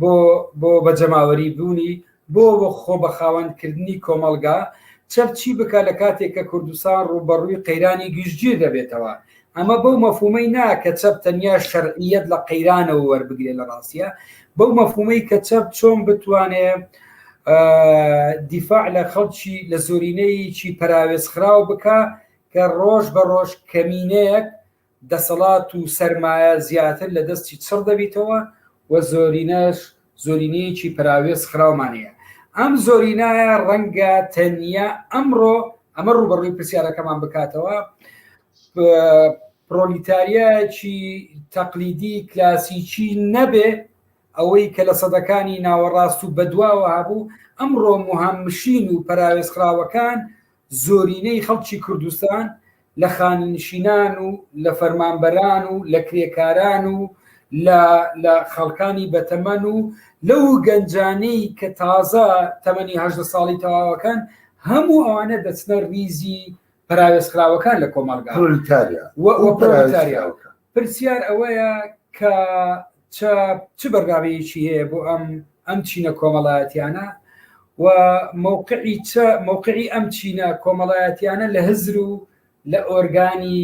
بۆ بۆ بە جەماوەری بوونی، بۆ بۆ خۆ بە خاوەند کردنی کۆمەڵگا، چەپ چی بکا لە کاتێک کە کوردستان ڕووبەڕووی قەیرانی گشتگیر دەبێتەوە، ئەمە بەو مەفهوومەی نا کە چەپ تەنیا شەرعییەت لە قەیرانەوە وەربگرێ لە ڕاستیا بەو مەفهوومەی کە چەپ چۆن بتوانێ دیفاع لە خەڵکی لە زۆرینەیەکی پەراوێزخراو بکا کە ڕۆژ بە ڕۆژ کەمینەیەک دەسەڵات و سەرمایە زیاتر لە دەستی چڕ دەبیتەوە و زۆرینەش زۆرینەیەکی پەراوێز خراومان هەیە. ئەم زۆرینایە ڕەنگە تەنیا ئەمڕۆ ئەمە ڕووبەڕووی پرسیارەکەمان بکاتەوە، پرۆلیتاریایەکی تەقلیدی کلاسیکی نەبێ، ئەوەی کە لە سەدەکانی ناوەڕاست و بەدواوە هەبوو، ئەمڕۆ موهەمشین و پەراوێزخراوەکان زۆرینەی خەڵکی کوردستان لە خانەنشینان و لە فەرمانبەران و لە کرێکاران و لە خەڵکانی بەتەمەن و لەو گەنجانەی کە تازە تەمەنی هەژدە ساڵی تەواوەکان هەموو ئەوانە دەچنە ریزی پراوێزخراوەکان لە کۆمەڵگا پرسیار ئەوەیە کە چاپ چ بەرنامەیەکی هەیە بۆ ئەم ئەم چینە کۆمەڵایەتیانە و مەوقعی چ مەوقعی ئەم چینە کۆمەڵایەتیانە لە هزر و لە ئۆرگانی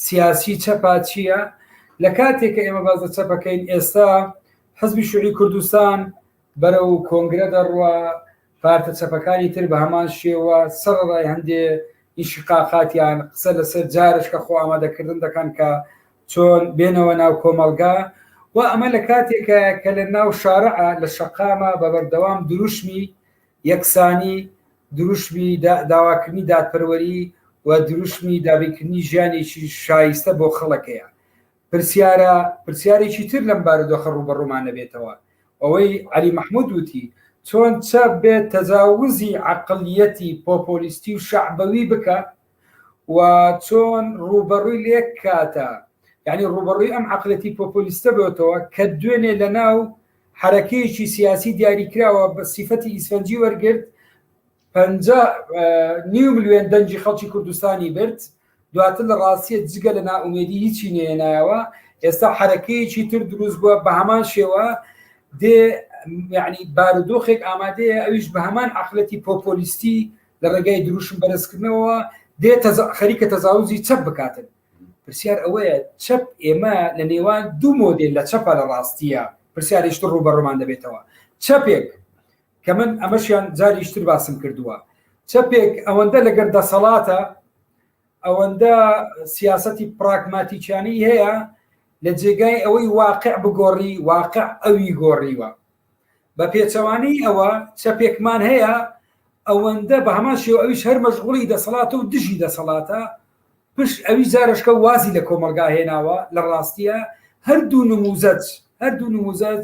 سیاسی چەپا چییە لە کاتێک کە ئێمە باز لە چەپەکەین ئێستا حزبی شوعی کوردستان بەرەو کۆنگرە دەڕوە پارتە چەپەکانی تر بە هەمان شێوە سەڕەڕای هەندێ ئینشیقاقاتیان قسە لە سەر جارشکە خۆ ئامادەکردن دەکەن کە چۆن بێنەوە ناو کۆمەڵگا و ئەمە لە کاتێکە کە لە ناو شارع لە شەقامە بە بەردەوام دروشمی یەکسانی دروشمی داواکردنی دادپەروەری و دروشمی دابینکردنی ژیانێکی شایستە بۆ خەڵکەیە پرسیارە پرسیارێکی تر لەم بارودۆخە ڕووبەڕوومان دەبێتەوە ئەوەی عەلی مەحمود وتی، چۆن چەپ بێ تەجاوزی عەقڵیەتی پۆپۆلیستی و شەعبەوی بکا و چۆن ڕووبەڕووی لێک کاتە، یانی ڕووبەڕووی ئەم عەقڵیەتی پۆپۆلیستە بێتەوە کە دوێنێ لەناو حەرەکەیەکی سیاسی دیاریکراوە بە سیفەتی ئیسفەنجی وەرگرت پەنجا نیو ملیۆن دەنگی خەڵکی کوردستانی برد، دواتر لە ڕاستیە جگە لە نائومێدی هیچی نەهێنایەوە، ئێستا حەرەکەیەکی تر دروست بووە بە هەمان شێوە دێ یعنی بارودۆخێک ئامادەیە ئەویش بە هەمان عقلەتی پۆپۆلیستی لە ڕێگای دروشم بەرزکردنەوە دێ خەریکە تەزاوزی چەپ بکاتن پرسیار ئەوەیە چەپ ئێمە لە نێوان دوو مۆدێل لە چەپە لە ڕاستیە پرسیارشت ڕوو بە ڕۆمان دەبێتەوە چەپێک کە من ئەمەشیان جاریشتر باسم کردووە چەپێک ئەوەندە لەگەر دەسەڵاتە ئەوەندە سیاستی پراگماتیکیانی هەیە لە جێگای ئەوەی واقع بگۆڕی واقع ئەوی گۆڕیوە بە پێچەوانی ئەوە چەپێکمان هەیە ئەوەندە بە هەمان شێو ئەویش هەر مەشغوڵی دەسەڵاتە و دژی دەسەڵاتە پشت ئەوی زارشکە وازی لە کۆمەلگا هێناوە لە ڕاستیە هەردوو نموزەج هەردوو نموزەج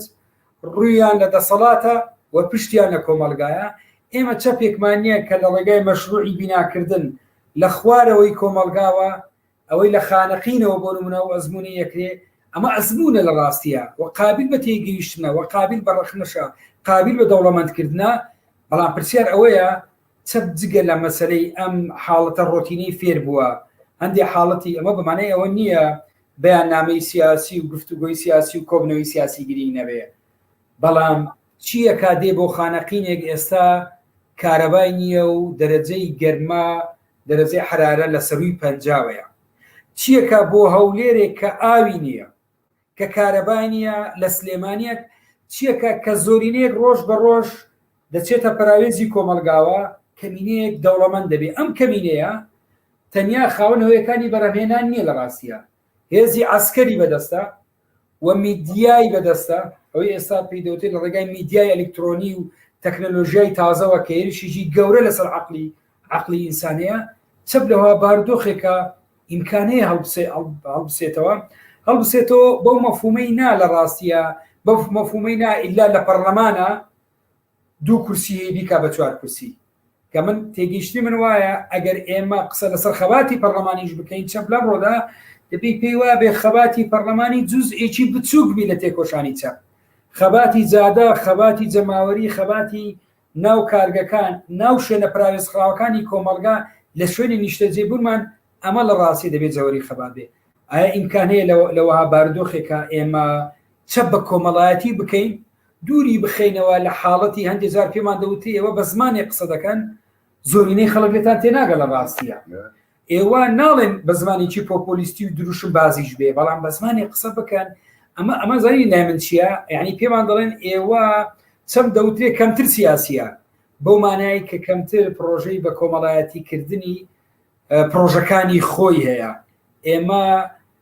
ڕوویان لە دەسەڵاتە و پشتیان لە کۆمەڵگایە، ئێمە چەپێکمان نییە کە لە ڕێگای مەشرووعی بیناکردن لە خوارەوەی کۆمەڵگاوە ئەوەی لە خانەقینەوە بۆ نموونە ئەو ئەزموونەی یەکرێ، ئەمە ئەزموونە لە ڕاستییا و قابیل بە تێگەیشتنە و قابیل بە ڕەخنەشە، قابیل بە دەوڵەمەندکردنە، بەڵام پرسیار ئەوەیە چەپ جگە لە مەسەلەی ئەم حاڵەتە ڕۆتینەی فێر بووە، هەندێ حاڵەتی ئەمە بە مانای ئەوە نییە بەیاننامەی سیاسی و گفتوگۆی سیاسی و کۆبنەوەی سیاسی گرینگ نەبێ، بەڵام چییەکا دێ بۆ خانەقینێک ئێستا کارەبای نییە و دەرەجەی گەرما، دەرەجەی حەرارە لە سەرووی پەنجاوەیە؟ چییەکا بۆ هەولێرێک کە ئاوی نییە، کە کارەبای نیە لە سلێمانیە چیەکە کە زۆرینەیەک ڕۆژ بە ڕۆژ دەچێتە پەراوێزی کۆمەڵگاوە کەمینەیەک دەوڵەمەند دەبێ ئەم کەمینەیە تەنیا خاوەن هۆیەکانی بەرەمێنان نیە لە ڕاستیە هێزی عسکەری بەدەستە و میدیای بەدەستە ئەوەی ئێستا پێی دەوتێت لە ڕێگای میدیای ئەلکترۆنی و تەکنەلۆژیای تازەوە کە هێرشیجی گەورە لەسەر عقلی عەقڵی ئینسانەیە چەپ لەوە بارودۆخێکە ئیمکانەیە هەڵبسێتەوە هەڵبسێتەوە بەو مەفومەی نا لە ڕاستیە بەف مەفومەی نا ئللا لە پەرلەمانە دوو کورسی بیکا بە چوار کورسی کە من تێگەیشتنی من وایە ئەگەر ئێمە قسە لەسەر خەباتی پەرلەمانیش بکەین چەپ لەم ڕۆدا دەبی پێی وا بێ خەباتی پەرلەمانی جوز ئێکی بچووک بی لە تێکۆشانی چەپ خەباتی جادە خەباتی جەماوەری خەباتی ناو کارگەکان، ناو شوێنە پەراوێزخراوەکانی کۆمەڵگا لە شوێنی نیشتەجێبوونمان، ئەمە لە ڕاستی دەبێ جەوەری خەبات بێ. ئایا ئیمکان هەیە لە وەها بارودۆخێکا ئێمە چەپ بە کۆمەڵایەتی بکەین، دووری بخەینەوە لە حاڵەتی هەندێ جار پێمان دەوترێ ئێوە بە زمانێک قسە دەکەن، زۆرینەی خەڵک لێتان تێناگا لە ڕاستیا. ئێوە ناڵێن بە زمانێکی پۆپۆلیستی و دروشمبازیش بێ بەڵام بە زمانی قسە بکەن ئەمە ئەمە زانی لای من چییە یعنی پێمان دەڵێن ئێوە چەم دەوترێ کەمتر سیاسیە بەو مانایی کە کەمتر پرۆژەی بە کۆمەڵایەتی کردنی پرۆژەکانی خۆی هەیە ئێمە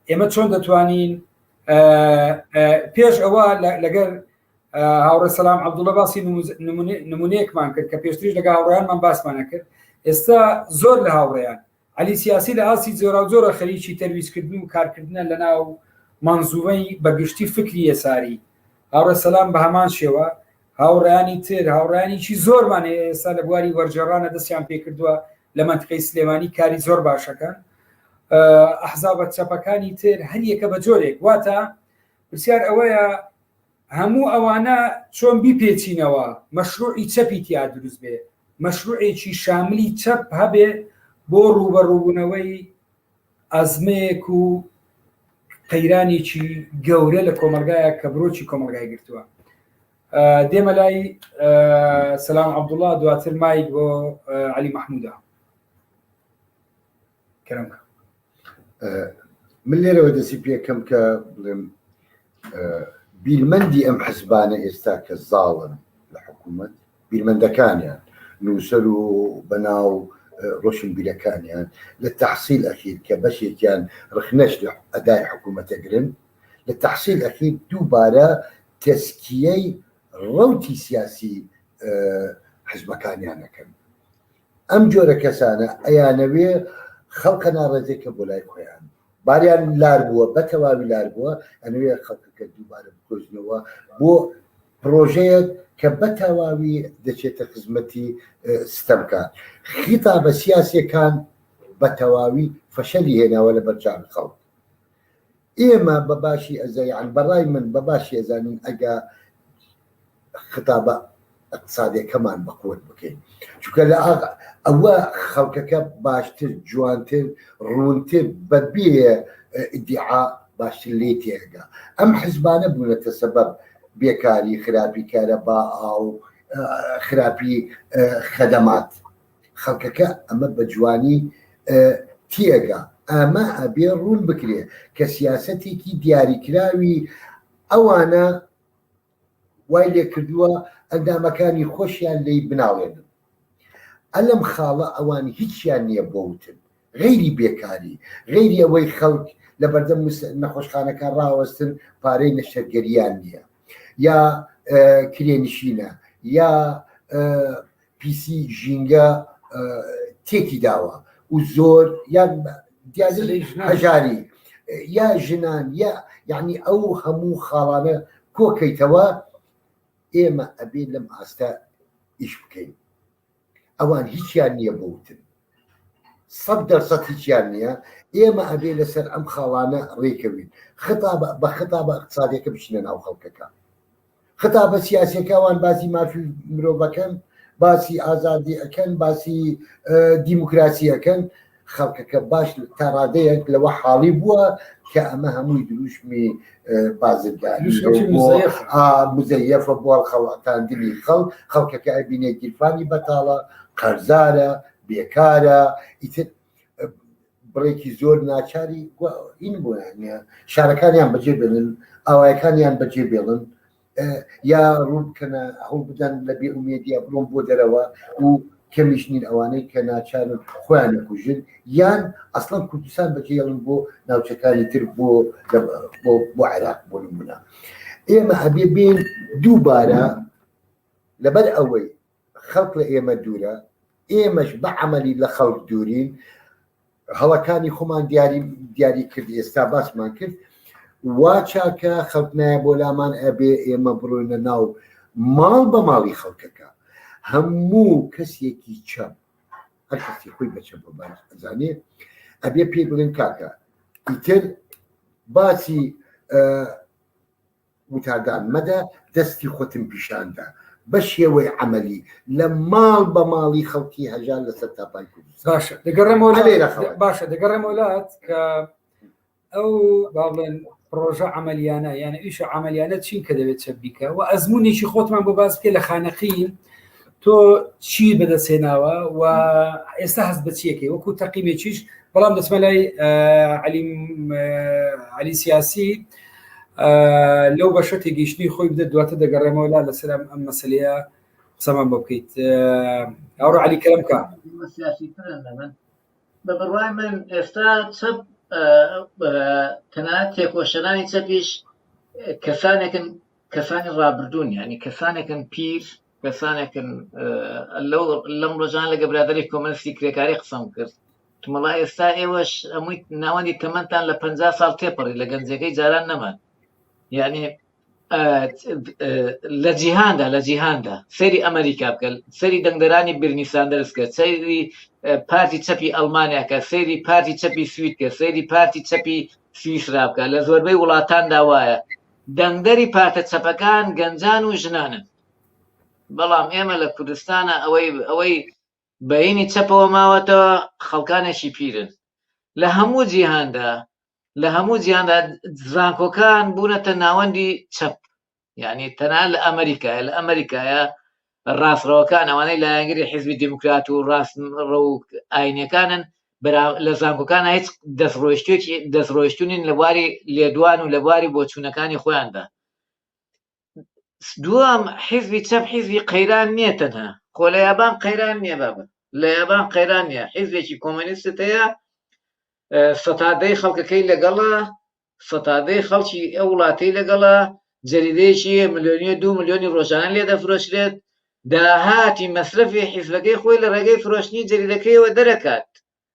ئێمە چۆن دەتوانین پێش ئەوە لەگەر هاوڕێ سەسلام عبدوڵە باسی نمونەیەکمان کرد کە پێشتریش لەگە هاوڕیانمان باسمانە کرد ئێستا زۆر لە هاوڕێیان علی سیاسی لە ئاسی زۆرا زۆرە خەریکی تەرویزکردن و کارکردنە لە ناو منزومەی بەگشتی فکری یەساری هاوڕێ سەسلام بە هەمان شێوە هاوڕیانی تر هاوڕیانیی زۆرمان ئێستا لە بواری وەرجێڕانە دەستیان پێکردووە لە منتقی سلێمانی کاری زۆر باشەکەن ئەحزابەت چەپەکانی تر هەریەکە بە جۆرێک واتە پرسیار ئەوەیە هەموو ئەوانە چۆن بیپێچینەوە مەشروعی چەپی تیا دروست بێ، مەشروعێکی شاملی چەپ هەبێ بۆ ڕووبەڕووبوونەوەی ئەزمەیەک و قەیرانێکی گەورە لە کۆمەلگایە کە برۆکی کۆمەلگای گرتووە دێمە لای سلام عبدوڵا دواتر مایک بۆ علی مححمودا کرم کە من لێرەوە دەسی پێکەم کە بڵێم بیرمەندی ئەم حزبانە ئێستا کە زاڵن لە حکوومەت بیرمەندەکانیان نووسەر و بەناو ڕۆشن بیرەکانیان لە تحصیل ئەخیر کە بەشێکیان ڕخنەش لە ئەدای حکوومەتەگرن لە تحصیل ئەخیر دووبارە تەسکیەی ڕوتی سیاسی حزبەکانیانەکەن ئەم جۆرە کەسانە ئەیانەوێ خەڵکە ناڕێزێ کە بۆ لای خۆیان باریان لار بووە بە تەواوی لار بووە ئەنوێ خەڵکەکە دووبارە بکۆزنەوە بۆ پرۆژەیەک کە بە تەواوی دەچێتە خزمەتی ستەمکان خیتا بە سیاسەکان بە تەواوی فەشەلی هێناوە لە بەرچاوی خەڵک ئێمە بە باشی ئەزا یان بە ڕای من بە باشی ئەزانین ئەگە خەتابە ئەقتصادەکەمان بە قوت بکەین چونکە لە ئەوە خەڵکەکە باشتر جوانتر ڕوونتر بە بێ ئیدعا باشتر لێ تێگا ئەم حزبانە بوونەتە سەبەب بێکاری خراپی کارەبا ئاو خراپی خەدەمات خەڵکەکە ئەمە بە جوانی تیەگا. ئەمە ئەبێ ڕوون بکرێ کە سیاسەتێکی دیاریکراوی ئەوانە وای لێ کردووە ئەندامەکانی خۆشیان لی بناڵێنن. ئەلم خاڵە ئەوان هیچیان نییە بۆ وتن. غەیری بێکاری، غەیری ئەوەی خەڵک لە بەردەم نەخۆشخانەکان ڕاوەستن پارەی نەشتەرگەریان نییە یا کرێنشینە یا پیسی ژینگە تێکی داوە و زۆر یان هەژاری یا ژنان یا یعنی ئەو هەموو خاڵانە کۆکەیتەوە ئێمە ئەبێ لەم ئاستە ئیش بکەین ئەوان هیچیان نییە بوتن سەد دەرسەد هیچیان نییە ئێمە ئەبێ لەسەر ئەم خاڵانە ڕێکەوین ختا بە ختا بە اقتصادەکە بچنە ناو خەڵکەکە خەتابە سیاسیەکە وان باسی مافی مرۆڤەکەن باسی ئازادی ئەەکەن باسی دیموکراسی ئەەکەن خەڵکەکە باش تا ڕادەیەک لەوە حاڵی بووە کە ئەمە هەمووی دروشمی بازرگانی مزەیەفە بۆڵ خەڵاتاندنی خەڵ خەڵکەکە ئەبینێ گیرفانی بەتاڵە قەرزارە بێکارە ئیتر بڕێکی زۆر ناچاری این بۆیان نیە شارەکانیان بەجێ بێنن ئاوایەکانیان بەجێ بێڵن یا ڕوون بکەنە هەوڵ بدەن لە بێ ئومێدیا بڵۆم بۆ دەرەوە و کەمیش نین ئەوانەی کە ناچارن خۆیان نەکوژن یان ئەسڵم کوردستان بەجێڵن بۆ ناوچەکانی تر بۆ بۆ عێراق بۆ نمونە ئێمە هەبێ بین دووبارە لەبەر ئەوەی خەڵک لە ئێمە دوورە، ئێمەش بە عەمەلی لە خەڵک دوورین، هەڵەکانی خۆمان دیاری دیاری کرد ئێستا باسمان کرد وا چاکە خەڵک نایە بۆ لامان ئەبێ ئێمە بڕۆینە ناو ماڵ بە ماڵی خەڵکەکە هەموو کەسێکی چەم هەر کەسی خۆی بەچە بەزانێ ئەبێ پێی بڵێن کاکە ئیتر باسی وتادان مەدە دەستی خۆتم پیشان دە بە شێوەی عەمەلی لە ماڵ بە ماڵی خەڵکی هەژار لەسەر تاپای کوردستان باشە دەگەڕێمەوە لە عەلێ لە خەڵک. باشە دەگەڕێمەوە لات کە ئەو با بڵێن پڕۆژە عملیانە یانە ئیشە عملیانە چین کە دەبێت چە بیکە و ئەزمونێکی خۆتمان بۆ باس بکە لە خانەقین تۆ چی بەدەست هێناوە و ئێستا هەست بەچیەکەی وەکو تەقیمێکیش بەڵام دەچمە لای علی سیاسی لەو بەشە تێگەیشتنی خۆی بدە دواتە دەگەڕێمەوە لا لەسەر ئەم مەسلەیە قسەمان بۆ بکەیت ئەوڕۆ علی کەمکە بە بڕای من ئێستا چەپ تەنها تێکۆشەرانی چەپیش کەسانێکن کەسانی ڕابردوون ینی کەسانێکن پیر کەسانێکن لەو لەم ڕۆژان لەگە برادری کۆمەنستی کرێکاری قسەم کرد تمەڵا ئێستا ئێوەش ئەمووی ناوەندی تەمەندان لە پ ساڵ تێپەڕی لە گەنجەکەی جاران نەمان یعنی لە جیهاندا لە جیهاندا سەری ئەمریکا بکە سەری دەنگدەرانی برنی ساندرس کە سەری پارتی چەپی ئەلمانیا کە سەری پارتی چەپی سوید کە سەری پارتی چەپی سویسرا بکە لە زۆربەی وڵاتاندا وایە دەنگدەری پارتە چەپەکان گەنجان و ژنانن بەڵام ئێمە لە کوردستانا ئەوەی ئەوەی بەینی چەپەوە ماوەتەوە خەڵکانێکی پیرن لە هەموو جیهاندا لە هەموو جیهاندا زانکۆکان بوونەتە ناوەندی چەپ یعنی تەنان لە ئەمریکایە لە ئەمریکایە ڕاستڕەوەکان ئەوانەی لایەنگری حزبی دموکرات و ڕاست ڕە و ئاینەکانن لە زانکۆکان هیچ دەستڕۆشتێکی دەستڕۆشتونین لە بواری لێدوان و لە بواری بۆچوونەکانی خۆیاندا دووەم حیزبی چەپ حیزبی قەیران نییە تەنها خۆ لە یابان قەیران نییە بابەت لە یابان قەیران نیە حیزبێکی کۆمەنیستت هەیە سەتادەی خەڵکەکەی لەگەڵە سەتادەی خەڵکی ئەو وڵاتی لەگەڵە جەریدەیەکی ملیۆنی دو ملیۆنی ڕۆژانە لێ دەفرۆشرێت داهاتی مەسرەفی حیزبەکەی خۆی لە ڕێگەی فرۆشتنی جەریدەکەیەوە دەرەکات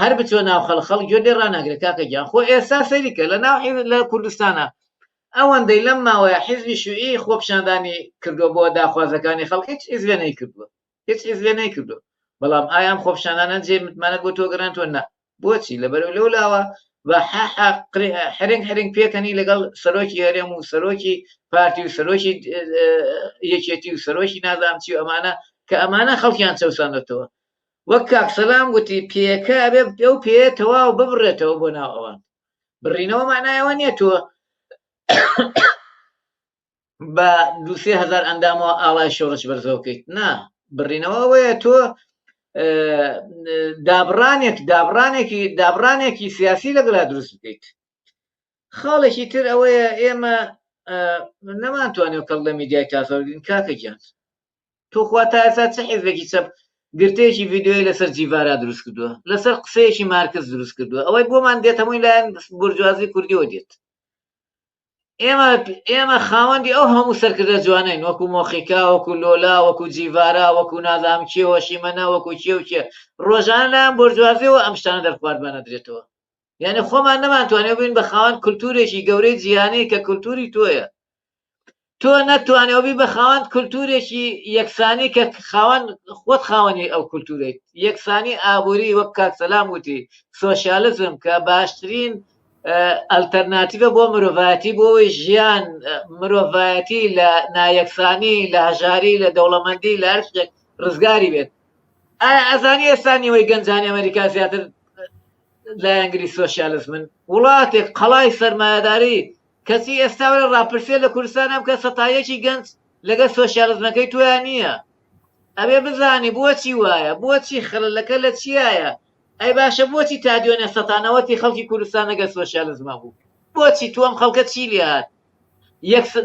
هەر بچۆ ناو خەڵ خەڵک گوێت لێ ڕاناگرێ کاکە گیان خۆ ئێستا سەیری کە لە ناو حیز لە کوردستانا ئەوەندەی لەم ماوەیە حیزبی شوعی خۆپیشاندانی کردووە بۆ داخوازەکانی خەڵک هیچ حیزبێ نەیکردووە هیچ حیزبێ نەیکردووە بەڵام ئایا ئەم خۆپیشانانە جێ متمانەت بۆ تۆ گەڕێنتوە نا بۆچی لەبەرو لەو لاوە بە حەحە قرێ حرنگ حرنگ پێکەنی لەگەڵ سەرۆکی هەرێم و سەرۆکی پارتی و سەرۆکی یەکێتی و سەرۆکی نازانام چی و ئەمانە کە ئەمانە خەڵکیان چەوسانەتەوە وەک کاک سەلام گوتی پێیەکە ئەبێ ئەو پێیە تەواو ببڕێتەوە بۆ ناو ئەوان بڕینەوە مانایەوە نییە تۆ بە دوسێ هزار ئەندامەوە ئاڵای شۆڕش بەرزەوەکەیت نا بڕینەوە ئەوەیە تۆ دابڕانێک دابڕانێکی دابڕانێکی سیاسی لەگەڵا دروست بکەیت خاڵێکی تر ئەوەیە ئێمە نەمانتوانێت کەڵ لە میدیای تاسەگرین کاکە گیان توخوا تا ئێستا چ حیزبێکی چەپ گرتەیەکی ڤیددیوی لەسەر جیڤارا دروست کردووە لەسەر قسەیەکی مارکز دروست کردووە ئەوەی بۆمان دێت هەمووی لایەن بورجوازی کوردیەوە دێت ئێمە ئێمە خاوەندی ئەو هەموو سەرکردە جوانین وەکو مۆخیکا وەکو لۆلا وەکو جیڤارا وەکو نازام کێوە شیمەە وەکو کێو کێ ڕۆژانە لایەن بۆرجوازیەوە ئەم شتانە دەرخواردمانە درێتەوە یانێ خۆمان نەمانتوانێت بین بە خاوەن کولتورێکی گەورەی جیهانەیە کە کولتوری تۆیە تۆ نەتوانێوبی بە خاوەند کولتورێکی یەکسانی کە خاوەن خۆت خاوەنی ئەو کولتورێت یەکسانی ئابووری وەک کاکسەلام وتی سۆسیالزم کە باشترین ئەلتەرناتیڤە بۆ مرۆڤایەتی بۆی ژیان مرۆڤایەتی لە نایەکسانی لە هەژاری لە دەوڵەمەندی لە هەر شتێک ڕزگاری بێت ئەزانی ئێستا نیوەی گەنجانی ئەمریکا زیاتر لایەنگری سۆشیالزمن وڵاتێک قەڵای سەرمایەداری کەچی ئێستا وەرە ڕاپرسێ لە کوردستان ئەم کە سەتایەکی گەنج لەگەر سۆشیالزمەکەی تویا نییە ئەبێ بزانی بۆچی وایە بۆچی خەلەکە لە چیایە ئەی باشە بۆچی تا دوێنێ سەتانەوەتی خەڵکی کوردستان لەگەر سۆشیالزمە بوو بۆچی تو ئەم خەڵکە چی لێهات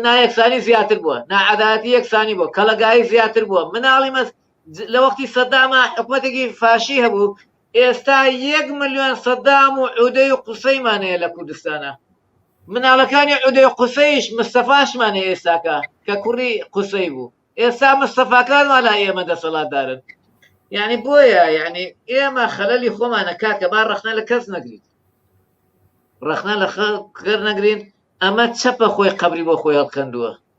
نایەکسانی زیاتر بووە ناعاداتی یەکسانی بۆ کەڵگایی زیاتر بووە مناڵی مەس لە وەختی سەداما حکومەتێکی فاشی هەبوو ئێستا یەک ملیۆن سەدام و عودەی و قوسەیمان هەیە لە کوردستانە مناڵەکانی عودەی قوسەیش مستەفاشمان هەیە ئێستاکە کە کوڕی قوسەی بوو ئێستا مستەفاکانمان لا ئێمە دەسەڵاتدارن یعنی بۆیە یعنی ئێمە خەلەلی خۆمانە کاکە با ڕخنە لە کەس نەگریت ڕخنە لە خەڵ کەر نەگرین ئەمە چەپە خۆی قبلی بۆ خۆی هەڵکەندووە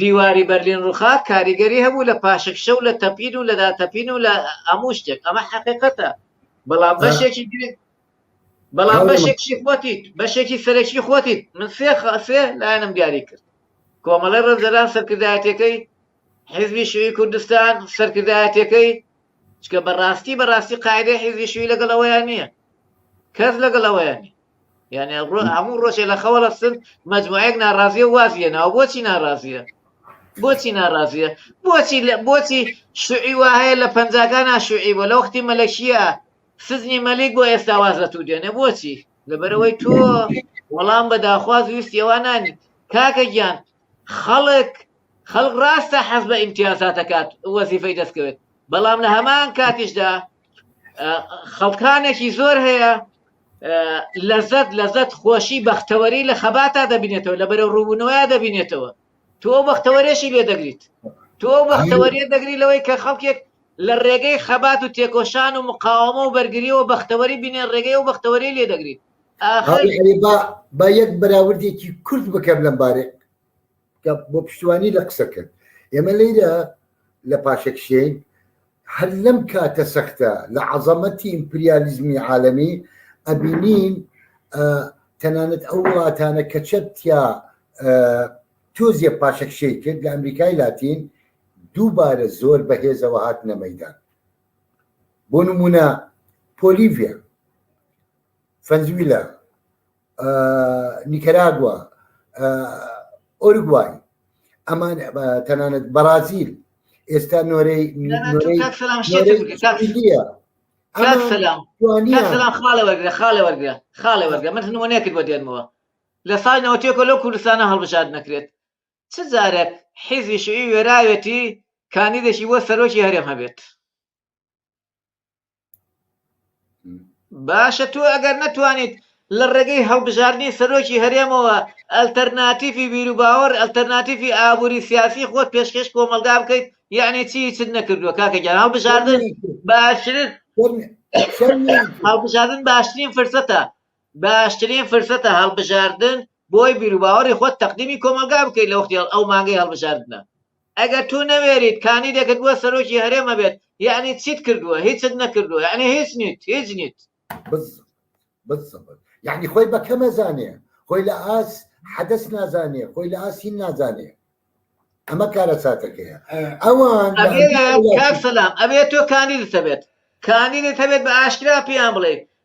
دیواری بەرلین ڕوخا کاریگەری هەبوو لە پاشەکشە و لە تەپین و لە داتەپین و لە هەموو شتێک ئەمە حەقیقەتە بەڵام بەشێکی گرنگ بەڵام هەڵێ بەشێکی خۆتیت بەشێکی سەرەکی خۆتیت من سێ خ- سێ لایەنم دیاری کرد کۆمەڵی ڕەنجەران سەرکردایەتەکەی حیزبی شوی کوردستان سەرکردایەتەکەی چکە بەڕاستی بەڕاستی قاعدەی حیزبی شوی لەگەڵ ئەوەیان نییە کەس لەگەڵ ئەوەیان نییە یعنی هەموو ڕۆژێ لە خەوە لەستن مجموعەیەک ناڕازیە وازیە ناو بۆچی ناڕازیە بۆچی ناڕازیە بۆچی لە بۆچی شوعی وا هەیە لە پەنجاکانە شوعی بۆ لە وەختی مەلەکیە سزنی مەلیک بۆ ئێستا واز لە تو دێنێ بۆچی لەبەرەوەی تۆ وەڵام بە داخواز ویست ئێوانانی کاکە گیان خەڵک خەڵک ڕاستە حەز بە ئیمتیازاتەکات وەزیفەی دەستکەوێت بەڵام لە هەمان کاتیشدا خەڵکانێکی زۆر هەیە لەزەت لەزەت خۆشی بەختەوەری لە خەباتا دەبینێتەوە لە بەرە ڕوونەوەیا دەبینێتەوە تۆ بەختەوەرێشی لێ دەگریت تۆ بەختەوەریە دەگری لەوەی کە خەڵکێک لە ڕێگەی خەبات و تێکۆشان و مقاومە و بەرگریەوە بەختەوەری بینێن ڕێگەی و بەختەوەری لێ دەگریت با یەک بەراوردێکی کورت بکەم لەم بارێ بۆ پشتوانی لە قسەکەت ئێمە لەیرە لە پاشەکشێین هەر لەم کاتە سەختە لە عەزەمەتی ئیمپریالیزمی عالەمی ئەبینین تەنانەت ئەو وڵاتانە کە چەتیا تۆزیە پاشەکشەی کرد لە ئەمریکای لاتین دووبارە زۆر بەهێزەوە هات نەمەدان بۆ نمونە پۆلیڤە فەنزویلا نیکەراگووە ئۆرگوای ئەمان تەنانەت بەرازیل ئێستا نۆرەی خاڵەوەگرە خاڵەوەگرە من نمونەیەکت بۆ دێنمەوە لە سای نەوتێکە لەو کوردستانە هەڵبژاد نەکرێت چ جارێک حیزی شوی وێراوێتی کاندیدێکی بۆ سەرۆکی هەرێم هەبێت باشە تۆ ئەگەر نەتوانیت لە ڕێگەی هەڵبژاردنی سەرۆکی هەرێمەوە ئەلتەرناتیفی بیروباوەڕ ئەلتەرناتیفی ئابووری سیاسی خۆت پێشکەش کۆمەلگا بکەیت یعنی چی چت نەکردووە کاکەگیان هەڵبژاردن باشترین هەڵبژاردن باشترین فرسەتە باشترین فرسەتە هەڵبژاردن بۆی بیروباوەڕی خۆت تەقدیمی کۆمەلگا بکەیت لە وەختی ئەو مانگەی هەڵبژاردنە ئەگەر تو نەوێریت کانیدێکت بۆ سەرۆکی هەرێم هەبێت یەعنی چیت کردووە هیچت نەکردووە یەعنی هیچ نیت هیچ نیت. بزز بزز یەعنی خۆی بە کەم ئەزانێ خۆی لە ئاست حەدەس نازانێ خۆی لە ئاست هین نازانێ ئەمە کارەساتەکەیە ئەوان ئەبێ کاک سەلام ئەبێ تۆ کانیدت هەبێت کانیدت هەبێت بە ئاشکرا پێیان بڵێ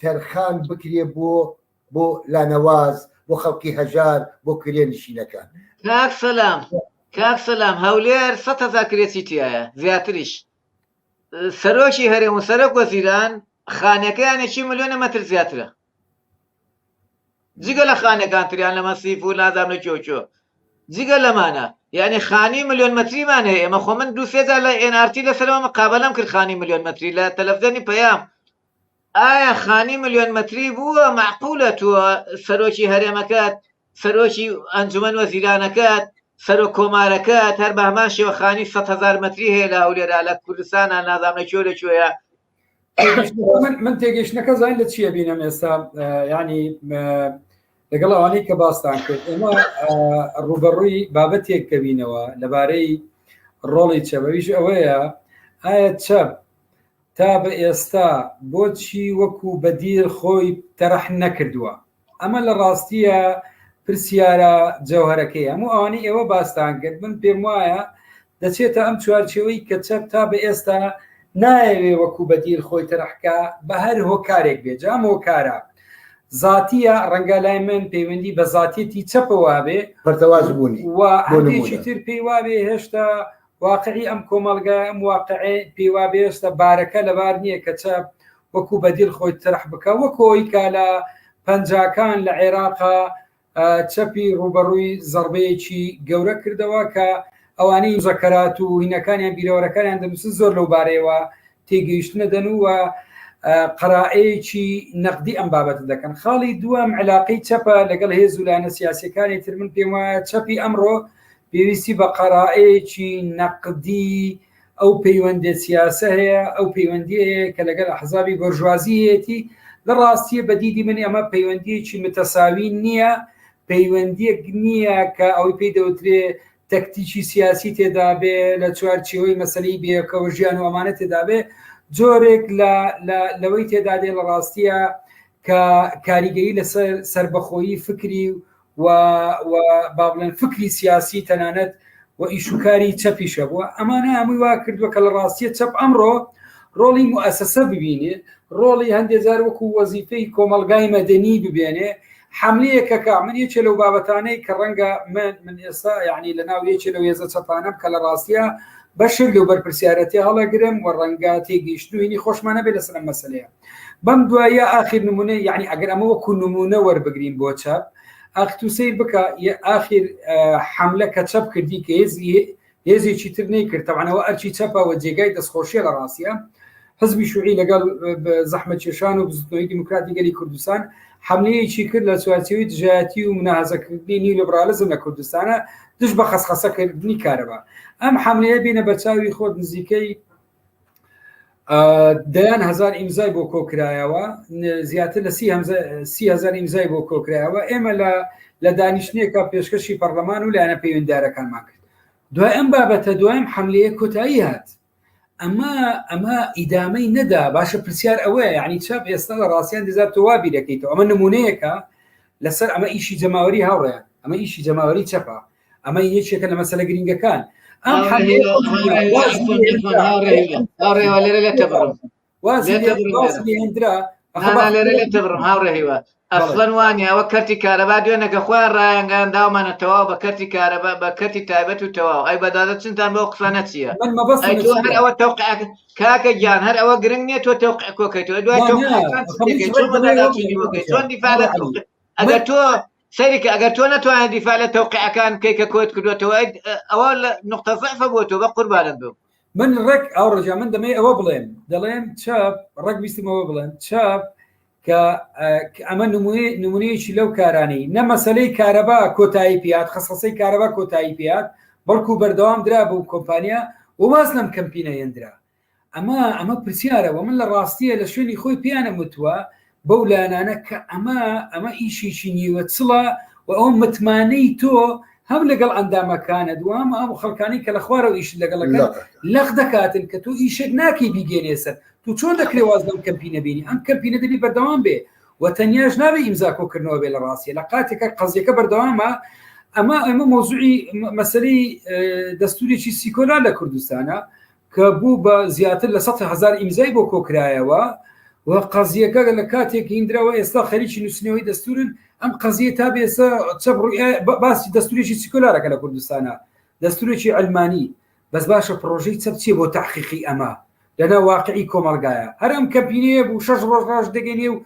تەرخان بکرێ بۆ بۆ لانەواز بۆ خەڵکی هەژار بۆ کرێ نشینەکان. کاک سەلام کاک سەلام هەولێر سەد هەزار کرێچی تایە زیاتریش سەرۆکی هەرێم و سەرۆک وەزیران خانەکەیانێکی ملیۆنە مەتر زیاترە جگە لە خانەکان تریان لە مەسیف و نازانە کۆکۆ جگە لەمانە یعنی خانی ملیۆن مەتریمان هەیە ئێمە خۆ من دو سێجار لە ئێنارتی لەسەرەوە مقابلم کرد خانی ملیۆن مەتری لە تەلەفزیۆنی پەیام ئایا خانی ملیۆن مەتری بووە مەعقولە تۆ سەرۆکی هەرێمەکەت سەرۆکی ئەنجومەن وەزیرانەکەت سەرۆک کۆمارەکەت هەر بە هەمان شێوە خانی سەد هەزار مەتری هەیە لە هەولێرا لە کوردستانە نازام لە کوێ لە کوێیە من تێگەشتنەکە زان لە چییە بینم ئێستا ینی لەگەڵ ئەوانەی کە باستان کرد ئێمە ڕوبەڕووی بابەتێک کەبینەوە لەبارەی ڕۆڵی چەبەویش ئەوەیە ئایا چەپ تا بە ئێستا بۆچی وەکو بەدیل خۆی تەرح نەکردووە؟ ئەمە لە ڕاستیە پرسیارە جەوهەرەکەی هەموو ئەوانەی ئێوە باستان کرد من پێم وایە دەچێتە ئەم چوارچێوەی کە چەپ تا بە ئێستا نایەوێ وەکو بەدیل خۆی تەرحکە بە هەر هۆکارێک بێ جام هۆکارە زاتیە ڕەنگە لای من پەیوەندی بە زاتێتی چەپەوە بێ بەردەواز بوونی و هەندێکی تر پێی وابێ هێشتا واقعی ئەم کۆمەڵگایە ئەم واقعێ پێی وا بێستە بارەکە لەبار نییە کە چە وەکو بەدیل خۆی ترح بکە وەکۆ ئەوی کە لە پەنجاکان لە عێراقا چەپی ڕووبەڕووی زەڕبەیەکی گەورە کردەوە کە ئەوانەی زەکەرات و هینەکانیان بیرەوەرەکانیان دەنووسن زۆر لەو بارەیەوە تێگەیشتنە دەن و قەرائەیەکی نەقدی ئەم بابەت دەکەن خاڵی دووەم علاقەی چەپە لەگەڵ هێز و لایەنە سیاسەکانی تر من پێم وایە چەپی ئەمڕۆ پێویستی بە قەرائەیەکی نەقدی ئەو پەیوەندە سیاسە هەیە ئەو پەیوەندی هەیە کە لەگەڵ حەزابی بەرژوازیەتی لە ڕاستیە بەدیدی من ئەمە پەیوەندیەکی متەساوی نییە پەیوەندیەک نییە کە ئەوی پێی دەوترێ تەکتیکی سیاسی تێدابێ لە چوار چێوەی مەسلەی بێکەوە ژیان و ئەمانە تێدابێ جۆرێک لەوەی تێدا دێ لە ڕاستیە کە کاریگەری لەسەر سربەخۆیی فکری و با بڵێن فکری سیاسی تەنانەت و ئیشوکاری چەپیشە بووە ئەمانە هەمووی وا کردووە کە لە ڕاستیە چەپ ئەمڕۆ ڕۆڵی موسسە ببینێ ڕۆڵی هەندێجار وەکو وەزیفەی کۆمەلگای مەدەنی ببێنێ حەملیە کەکە من یەکێ لەو بابەتانەی کە ڕەنگە من من ئێستا یعنی لە ناو یەکێ لەو هێزە چەپانەم کە لە ڕاستیە بەشێک لەو بەرپرسیارەتی هەڵەگرم و ڕەنگە تێگەیشتنوینی خۆشمانە بێ لەسەر ئەم مەسلەیە بەم دوایە ئاخیر نمونە یعنی ئەگەر ئەمە وەکو نمونە وەربگرین بۆ چەپ ئاختو سیر بکە ئاخیر حملە کە چەپ کردی کە هێزی هێزێکی تر نەیکرد تەبعەن ئەوە ئەرکی چەپە و جێگای دەستخۆشیە لە ڕاستیە حزبی شوعی لەگەڵ زەحمە کێشان و بزوتنەوەی دیموکراتی گەلی کوردستان حملەیەکی کرد لە چوارچێوی دژایەتی و مناهزەکردنی نیو لیبرالیزم لە کوردستانە دژ بە خەسخەسەکردنی کارەبا ئەم حملەیە بینە بەرچاوی خۆت نزیکەی دەیان هزار ئیمزای بۆ کۆکرایەوە زیاتر لە سیهزار ئیمزای بۆ کۆکرایەوە ئێمە لە لە دانیشتنێکە پێشکەشی پەرلەمان و لایەنە پەیوەنددارەکانمان کرد دوای ئەم بابەتە دوایم حملەیە کۆتایی هات ئەمە ئەمە ئیدامەی نەدا باشە پرسیار ئەوەیە یعنی چاپ ئێستا لە ڕاستیان دزار تۆوا بیرەکەیتەوە ئەمە نمونەیەەکە لەسەر ئەمە ئیشی جەماوەری هاوڕێ ئەمە ئیشی جەماوەری چەپە ئەمە یەکێکە لە مەسەلە گرنگەکان ئەم ڕێوالێرە لە تەبڕم هاوڕێهیوە ئەفلەن وانیەوە کەرتی کارەبا دوێنەکە خۆیان ڕایەنگان داومانە تەواو بە کەرتی کارەبا بە کەرتی تایبەت و تەواو ئەی بەدادە چنتان بۆ قسانە چییە ئەوە تەوق کاکە گیان هەر ئەوە گرنگ نیە تۆ تەوق کۆکەیتەوە دوای چۆن دیفاە ئەگەر تۆ سەیرکە ئەگەر تۆ نەتوانێت دیفاع لە تەوقعەکان کەی کە کۆت کردوێتەوە ئەوە لە نقطە زەعفە بۆ تۆ بە قوربانت بم من ڕێک ئەو ڕژە من دەمەی ئەوە بڵێم دەڵێم چاپ ڕێک ویستمەوە بڵێم چاپ کە ئەمە نمونی نمونەیەکی لەو کارانەی نە مەسلەی کارەبا کۆتایی پیات خەسەسەی کارەبا کۆتایی پیات بەڵکو بەردەوام درا بوو کۆمپانیا وماز لەم کەمپینە هێندرا ئەمە ئەمە پرسیارە وە من لە ڕاستیە لە شوێنی خۆی پێیانە وتوە بەو لایەنانە کە ئەمە ئەمە ئیشێکی نیوە چڵە و ئەو متمانەی تۆ هەم لەگەڵ ئەندامەکانە دوام ئەم خەڵکانی کە لە خوارەوە ئیش لەگەڵەکە لەق دەکاتن کە تۆ ئیشێک ناکەی بیگەێنێ سەر تو چۆن دەکرێ واز لەم کەمپی نەبینی ئەم کەمپی نەدەبی بەردەوام بێ و تەنیاش نابێ ئیمزا کۆکردنەوە بێ لە ڕاستیە لە قاتێکە قەزیەکە بەردەوامە ئەمە ئەمە مۆزوعی مەسەری دەستوریی سیکۆلا لە کوردستانە کە بوو بە زیاتر لە سەد هەزار ئیمزای بۆ کۆکرایەوە و قەزییەکە لە کاتێک هیندرا و ئێستا خەریکی نووسینەوەی دەستوورن، ئەم قەزییە تا بێسە چەپ ڕوئای باسی دەستوورێکی سیکۆلارەکە لە کوردستانا دەستوورێکی عەلمانی، بەس باشە پڕۆژەی چەپ چیە بۆ تەحقیقی ئەمە لەناو واقعی کۆمەڵگایە، هەر ئەم کەمپینەیە بوو شەش ڕۆژ ڕاش دەگەینێ و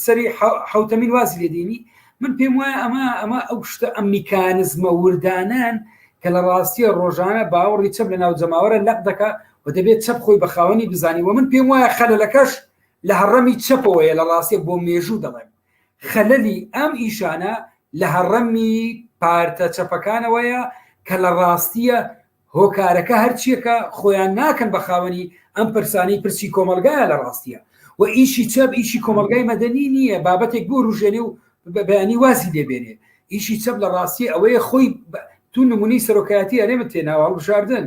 سەری حوتەمین واز لێدینی من پێم وایە ئەمە ئەمە ئەو شتە ئەم میکانزمە وردانان کە لە ڕاستیە ڕۆژانە باوەڕی چەپ لە ناو جەماوەرە لەق دەکە و دەبێت چەپ خۆی بە خاوەنی بزانی و من پێم وایە خەلەکەش لە هەڕەمی چەپەوەیە لە ڕاستیە بۆ مێژوو دەڵێن خەلەلی ئەم ئیشانە لە هەڕەمی پارتە چەپەکانەوەیە کە لە ڕاستیە هۆکارەکە هەرچیەکە خۆیان ناکەن بە خاوەنی ئەم پرسانی پرسی کۆمەلگایە لە ڕاستیە و ئیشی چەپ ئیشی کۆمەلگای مەدەنی نییە بابەتێک بۆ ڕژێنێ و بەبیانی وازی لێبێنێ ئیشی چەپ لە ڕاستی ئەوەیە خۆی تو نمونی سەرۆکایەتی ئەرێمە تێناوە هەڵبژاردن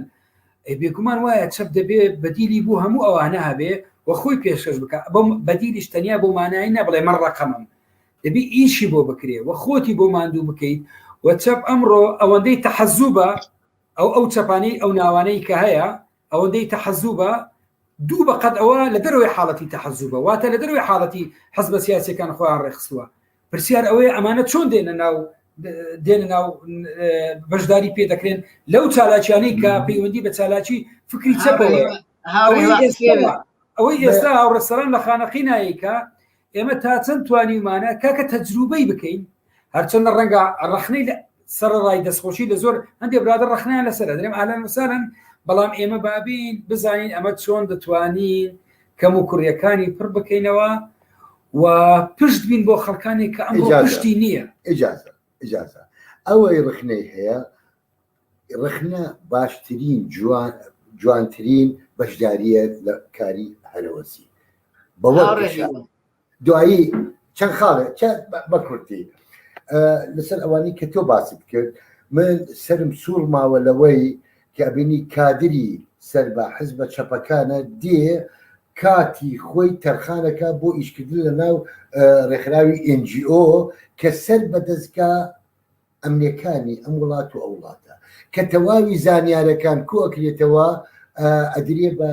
بێگومان وایە چەپ دەبێ بەدیلی بوو هەموو ئەوانە هەبێ و خۆی پێشکەش بکە بەم بەدیلیش تەنیا بۆ مانایی نەبڵێ من ڕقمم دەبی ئیشی بۆ بکرێ و خۆتی بۆ ماندوو بکەیت و چەپ ئەمڕۆ ئەوەندەی تەحەزوبە ئەو ئەو چەپانەی ئەو ناوانەی کە هەیە ئەوەندەی تەحەزوبە دوو بەقەد ئەوە لە دەرەوەی حاڵەتی تەحەزوبە واتە لە دەروی حاڵەتی حزبە سیاسەکان خۆیان ڕێخستووە پرسیار ئەوەیە ئەمانە چۆن دێنە ناو دێنە ناو بەشداری پێ دەکرێن لەو چالاکیانەی کە پەیوەندی بە چالاکی فکری چەپەوە ئەوەی ئێستا هاوڕێسەران لە خانەقی نایکە ئێمە تا چەند توانیومانە کاکە تەجروبەی بکەین هەرچەندە ڕەنگە ڕخنەی لە سەرڕای دەستخۆشی لە زۆر هەندێک برادە ڕخنیان لەسەر درێم ئالان وسانن بەڵام ئێمە بابین بزانین ئەمە چۆن دەتوانین کەم و کوڕیەکانی پڕ بکەینەوە و پشت بین بۆ خەڵکانی کە ئەم پشتی نییە ئجازە ئجازە ئەوەی ڕخنەی هەیە ڕەخنە باشترین جوانترین بەشداریە لە کاری هەلەوەسی دوایی چەند خاڵێ بەکورتی لەسەر ئەوانی کە تۆ باست کرد من سرم سوور ماوە لەوەی کابینی کادری سەر بە حزبە چەپەکانە دێ کاتی خۆی تەرخانەکە بۆ ئیشکردن لە ناو ڕێکخراوی NGO کە سەر بە دەستگا ئەمنێکانی ئەم وڵات و ئەوڵاتە کە تەواوی زانیارەکان کۆکرێتەوە ئەدرێ بە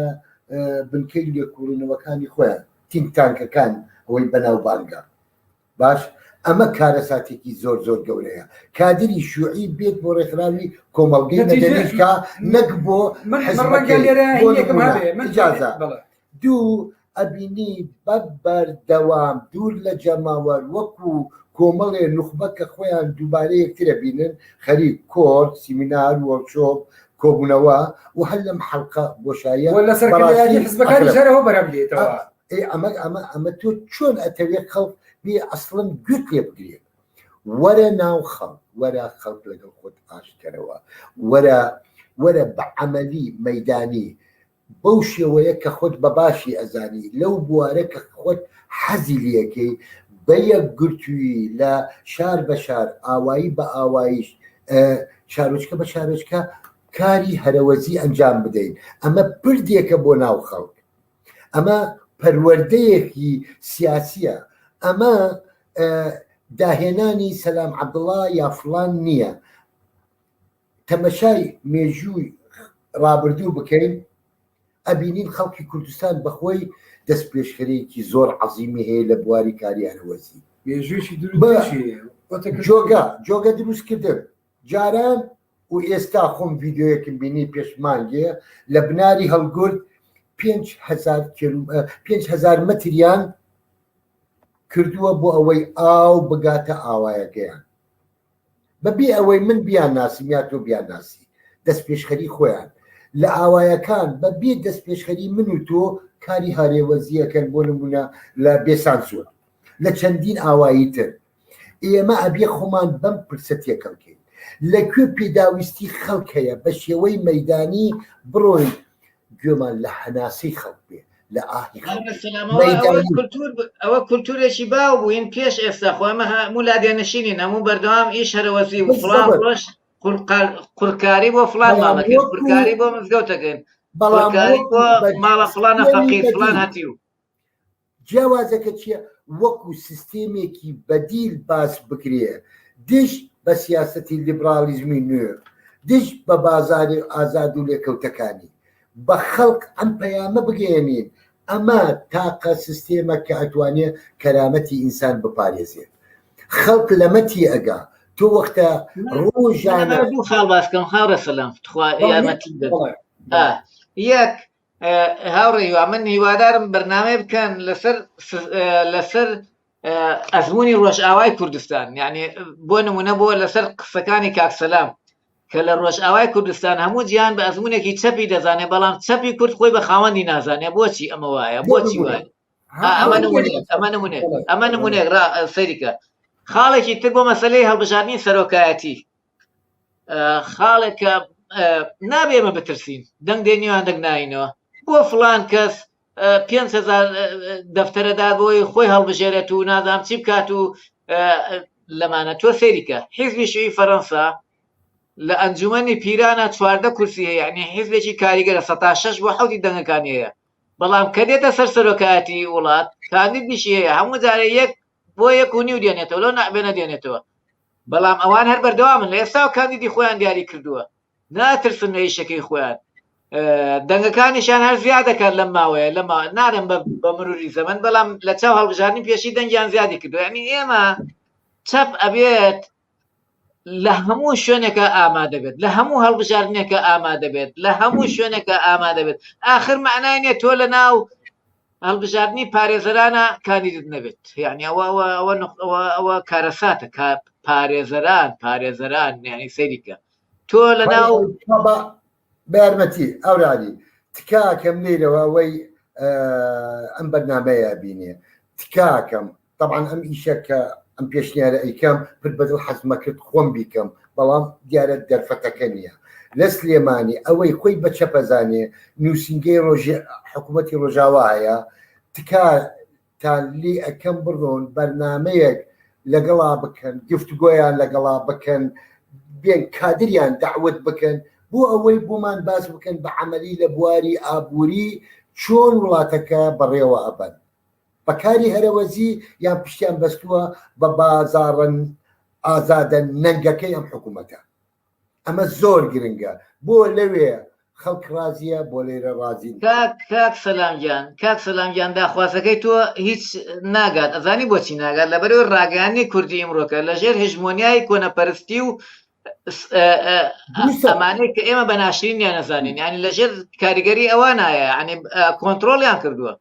بنکەی لێکوڵینەوەکانی خۆیان تینگتانکەکان ئەوەی بەناوبانگە باش ئەمە کارەساتێکی زۆر زۆر گەورەیە کادری شوعی بێت بۆ ڕێکخراوی کۆمەڵگەی مەدەنیشکا نەک بۆ حزبەکەی بۆ نمونە، ئیجازە. دوو ئەبینیت بە بەردەوام دوور لە جەماوەر وەکو کۆمەڵێ نوخبە کە خۆیان دووبارە یەکتر ئەبینن خەریک کۆڕ سیمینار وۆرکشۆپ کۆبوونەوە و هەر لەم حەلقە بۆشاییە و لە سەرکردایەتی بەڕاستی حزبەکانیش ئەقرب. هەرەوە بەرهەم دێتەوە. ئا ئێ ئەمە ئەمە ئەمە تۆ چۆن ئەتەوێ خەڵک بێ ئەسڵەن گوێت لێ بگرێ وەرە ناو خەڵک وەرە خەڵک لەگەڵ خۆت ئاشت کەرەوە وەرە وەرە بە عەمەلی مەیدانی بەو شێوەیە کە خۆت بە باشی ئەزانی لەو بوارە کە خۆت حەزی لێکەی بە یەکگرتووی لە شار بە شار ئاوایی بە ئاواییش شارۆچکە بە شارۆچکە کاری هەرەوەزی ئەنجام بدەین ئەمە پردێکە بۆ ناو خەڵک ئەمە پەروەردەیەکی سیاسیە ئەمە داهێنانی سەلام عەبدڵا یا فلان نییە تەمەشای مێژووی ڕابردوو بکەین ئەبینین خەڵکی کوردستان بەخۆی دەست پێشخەرێکی زۆر عەزیمی هەیە لە بواری کاری هەنەوەزی مێژوویی دروست جۆگە جۆگە دروستکردن جاران و ئێستا خۆم ڤیددیوەکم بینی پێشمانگێ لە بناری هەڵگرد 5هزار متریان کردووە بۆ ئەوەی ئاو بگاتە ئاوایەکەیان بەبێ ئەوەی من بیانناسم یا تۆ بیانناسی، دەستپێشخەری خۆیان لە ئاوایەکان بە بێ دەستپێشخەری من و تۆ کاری هاورێوەزی ئەکەن بۆ نمونە لە بێسانسۆر لە چەندین ئاوایی تر ئێمە ئەبێ خۆمان بەم پرسە تێکەڵ کەین لە کوێ پێداویستی خەڵک هەیە بە شێوەی مەیدانی بڕۆین گوێمان لە هەناسەی خەڵک بێ لە ئاهی ئەوە کولتورێکی باو بووین پێش ئێستا خۆمە هەموو لادێنشینی نەموو بەردەوام ئیش هەرەوەزی و فڵان ڕۆژ قورکاری بۆ فلان مامەکە قورکاری بۆ مزگەوتەکەن بەڵام ماڵە فلانە فەقیر فلان هەتی و جیاوازەکە چیە وەکو سیستێمێکی بەدیل باس بکرێ دژ بە سیاسەتی لیبڕاڵیزمی نوێ دژ بە بازاری ئازاد و لێکەوتەکانی بە خەڵک ئەم پەیامە بگەیەنین ئەمە تاقە سیستێمە کە ئەتوانێ کەرامەتی ئینسان بپارێزێت خەڵک لەمە تی ئەگا تۆ وەختە ڕۆژانە دوو خاڵ باسکەم خاڕە سەلام تخوا یارمەتی یەک هاوڕێ هیوا من هیوادارم بەرنامەیە بکەن لەسەر لەسەر ئەزمموی ڕۆژئاوای کوردستان یعنی بۆ نمونە بۆ لەسەر قسەکانی کاکسەلام کە لە ڕۆژئاوای کوردستان هەموو جیان بە ئەزمونێکی چەپی دەزانێت بەڵام چەپی کورد خۆی بە خاوەندی نازانێت بۆچی ئەمە وایە بۆچی وایە ئەمە نمونێت ئەمە نمونێت ئەمە نمونێک سەریکە خاڵێکی تر بۆ مەسلەی هەڵبژاردننی سەرۆکایەتی خاڵێکە نابێ ئێمە بترسین دەنگ دێ نێوان دەنگ ناینەوە بۆ فلان کەس پێهزار دەفتەرەدار بۆی خۆی هەڵبژێرێت و نادام چی بکات و لەمانە تۆ سەیریکە حیزبی شوی فەەنسا لە ئەنجومی پیرانە چواردە کورسی هەیە یعنی حیزبێکی کاریگەرە سە شش بۆ حوتی دەنگەکان هەیە بەڵام کە دێتە سەر سەرۆکایەتی وڵات کاندید نیشی هەیە هەموو جارە یەک بۆ یەک و نیو دێنێتەوە لەو نابێنە دێنێتەوە بەڵام ئەوان هەر بەردەوامن لە ئێستا و کاندیدی خۆیان دیاری کردووە ناترسن لە ئیشەکەی خۆیان دەنگەکانیشان هەر زیاد دەکات لەم ماوەیە لە نارم بە مروری زەمن بەڵام لە چاو هەڵبژارنی پێشی دەنگیان زیادی کردو ینی ئێمە چەپ ئەبێت لە هەموو شوێنێکە ئامادەبێت لە هەموو هەڵبژاردنێکە ئامادەبێت لە هەموو شوێنێکە ئامادەبێت ئاخر مەعنای نیە تۆ لە ناو هەڵبژاردننی پارێزەرانە کاندیدت نەبێت یعنی ئەوە ئەوە ئەوە کارەساتە پارێزەران پارێزەران یعنی سەریکە تۆ لە ناو بەیارمەتی ئەوراری تکاکەم لێرەوە ئەوەی ئەم بەرنمەیە بینێ تکاکەم طبعاان ئەم ئیشە کە ئەم پێشنیارە ئەیکەم پر بەدڵ حەزمە کرد خۆم بیکەم بەڵام دیارە دەرفەتەکە نییە لە سلێمانی ئەوەی خۆی بە چەپەزانێ نووسنگەی ڕۆژێ حکوومەتتی ڕۆژاوا هەیە تکا تا لی ئەکەم بڕۆن بەرنامەیەک لەگەڵا بکەن گفتگۆیان لەگەڵا بکەن بێن کادریان دەعوت بکەن بۆ ئەوەی بۆمان باس بکەن بە عەمەلی لە بواری ئابووری چۆن وڵاتەکە بەڕێوە ئەبەن بە کاری هەرەوەزی یان پشتیان بەستووە بە بازاڕن ئازادە نەنگەکەی ئەم حکوومەتە ئەمە زۆر گرنگە بۆ لەوێ خەڵک ڕازیە بۆ لێرە ڕازی نین. کاک کاک سەلام گیان کاک سەلام گیان داخوازەکەی تۆ هیچ ناگات ئەزانی بۆچی ناگات لەبەرەوەی ڕاگەیاندنی کوردی ئیمڕۆکە لەژێر هژمۆنیای کۆنەپەرستی و دروستە. ئەمانەی کە ئێمە بە ناشرینیان نەزانین یعنی لەژێر کاریگەری ئەوانایە یعنی کۆنترۆڵیان کردووە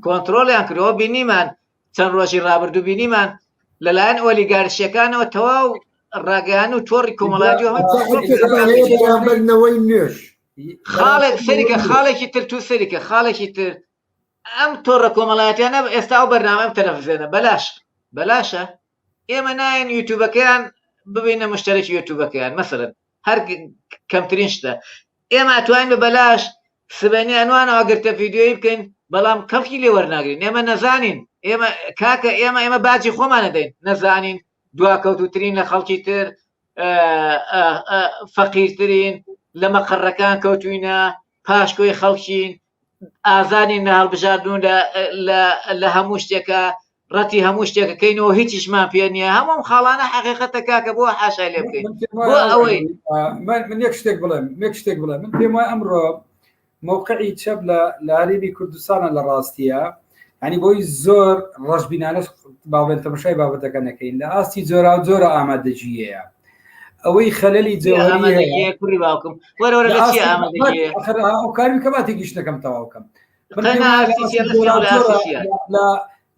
کۆنترۆڵیان کردەوە بینیمان چەند ڕۆژی ڕابردوو بینیمان لەلایەن ئۆلیگارشیەکانەوە تەواو ڕاگەیان و تۆڕی کۆمەڵاتیەوەی نوێش خاڵێک سەریکە خاڵێکی تر تو سەریکە خاڵێکی تر ئەم تۆڕە کۆمەڵاتیانە ئێستا ئەو بەرنامەم تەلەفزێنە بەلاش بەلاشە ئێمە نایەن یوتوبەکەیان ببینە مشتەرەکی یوتوبەکەیان مەسەرن هەر کەمترین شتە ئێمە توانین بە بەلاش سبەینێ ئەنوانە ئاگرتە فیدیۆیی بکەین بەڵام کەڵکی لێ وەرناگرین ئێمە نەزانین ئێمە کاکە ئێمە ئێمە باجی خۆمانە دەین نەزانین دواکەوتوترین لە خەڵکی تر فەقیرترین لە مەقەڕەکان کەوتوینە پاشکۆی خەڵکین ئازانی نە هەڵبژاردون لە هەموو شتێکە ڕەتی هەموو شتێکەکەینەوە هیچیشمان پێ نییە هەموم خاڵانە حقیقەتە کاکە بۆ حاشای لێ بکەین بۆ ئەوەی من یەک شتێک بڵێم یەک شتێک بڵێ من پێم وای ئەمڕۆ مووقعی چەپ لە لاریبی کوردستانە لە ڕاستیە ئەنی بۆی زۆر ڕژبینانەش باڵێن تەمەشای بابەتەکە نەکەین لە ئاستی جۆرا و جۆرە ئامادەجیەیە ئەوەی خەلەلی جێوەری باوکم وەرەوەرە ئەو کاری کەماتێکی شتەکەم تەواوکەم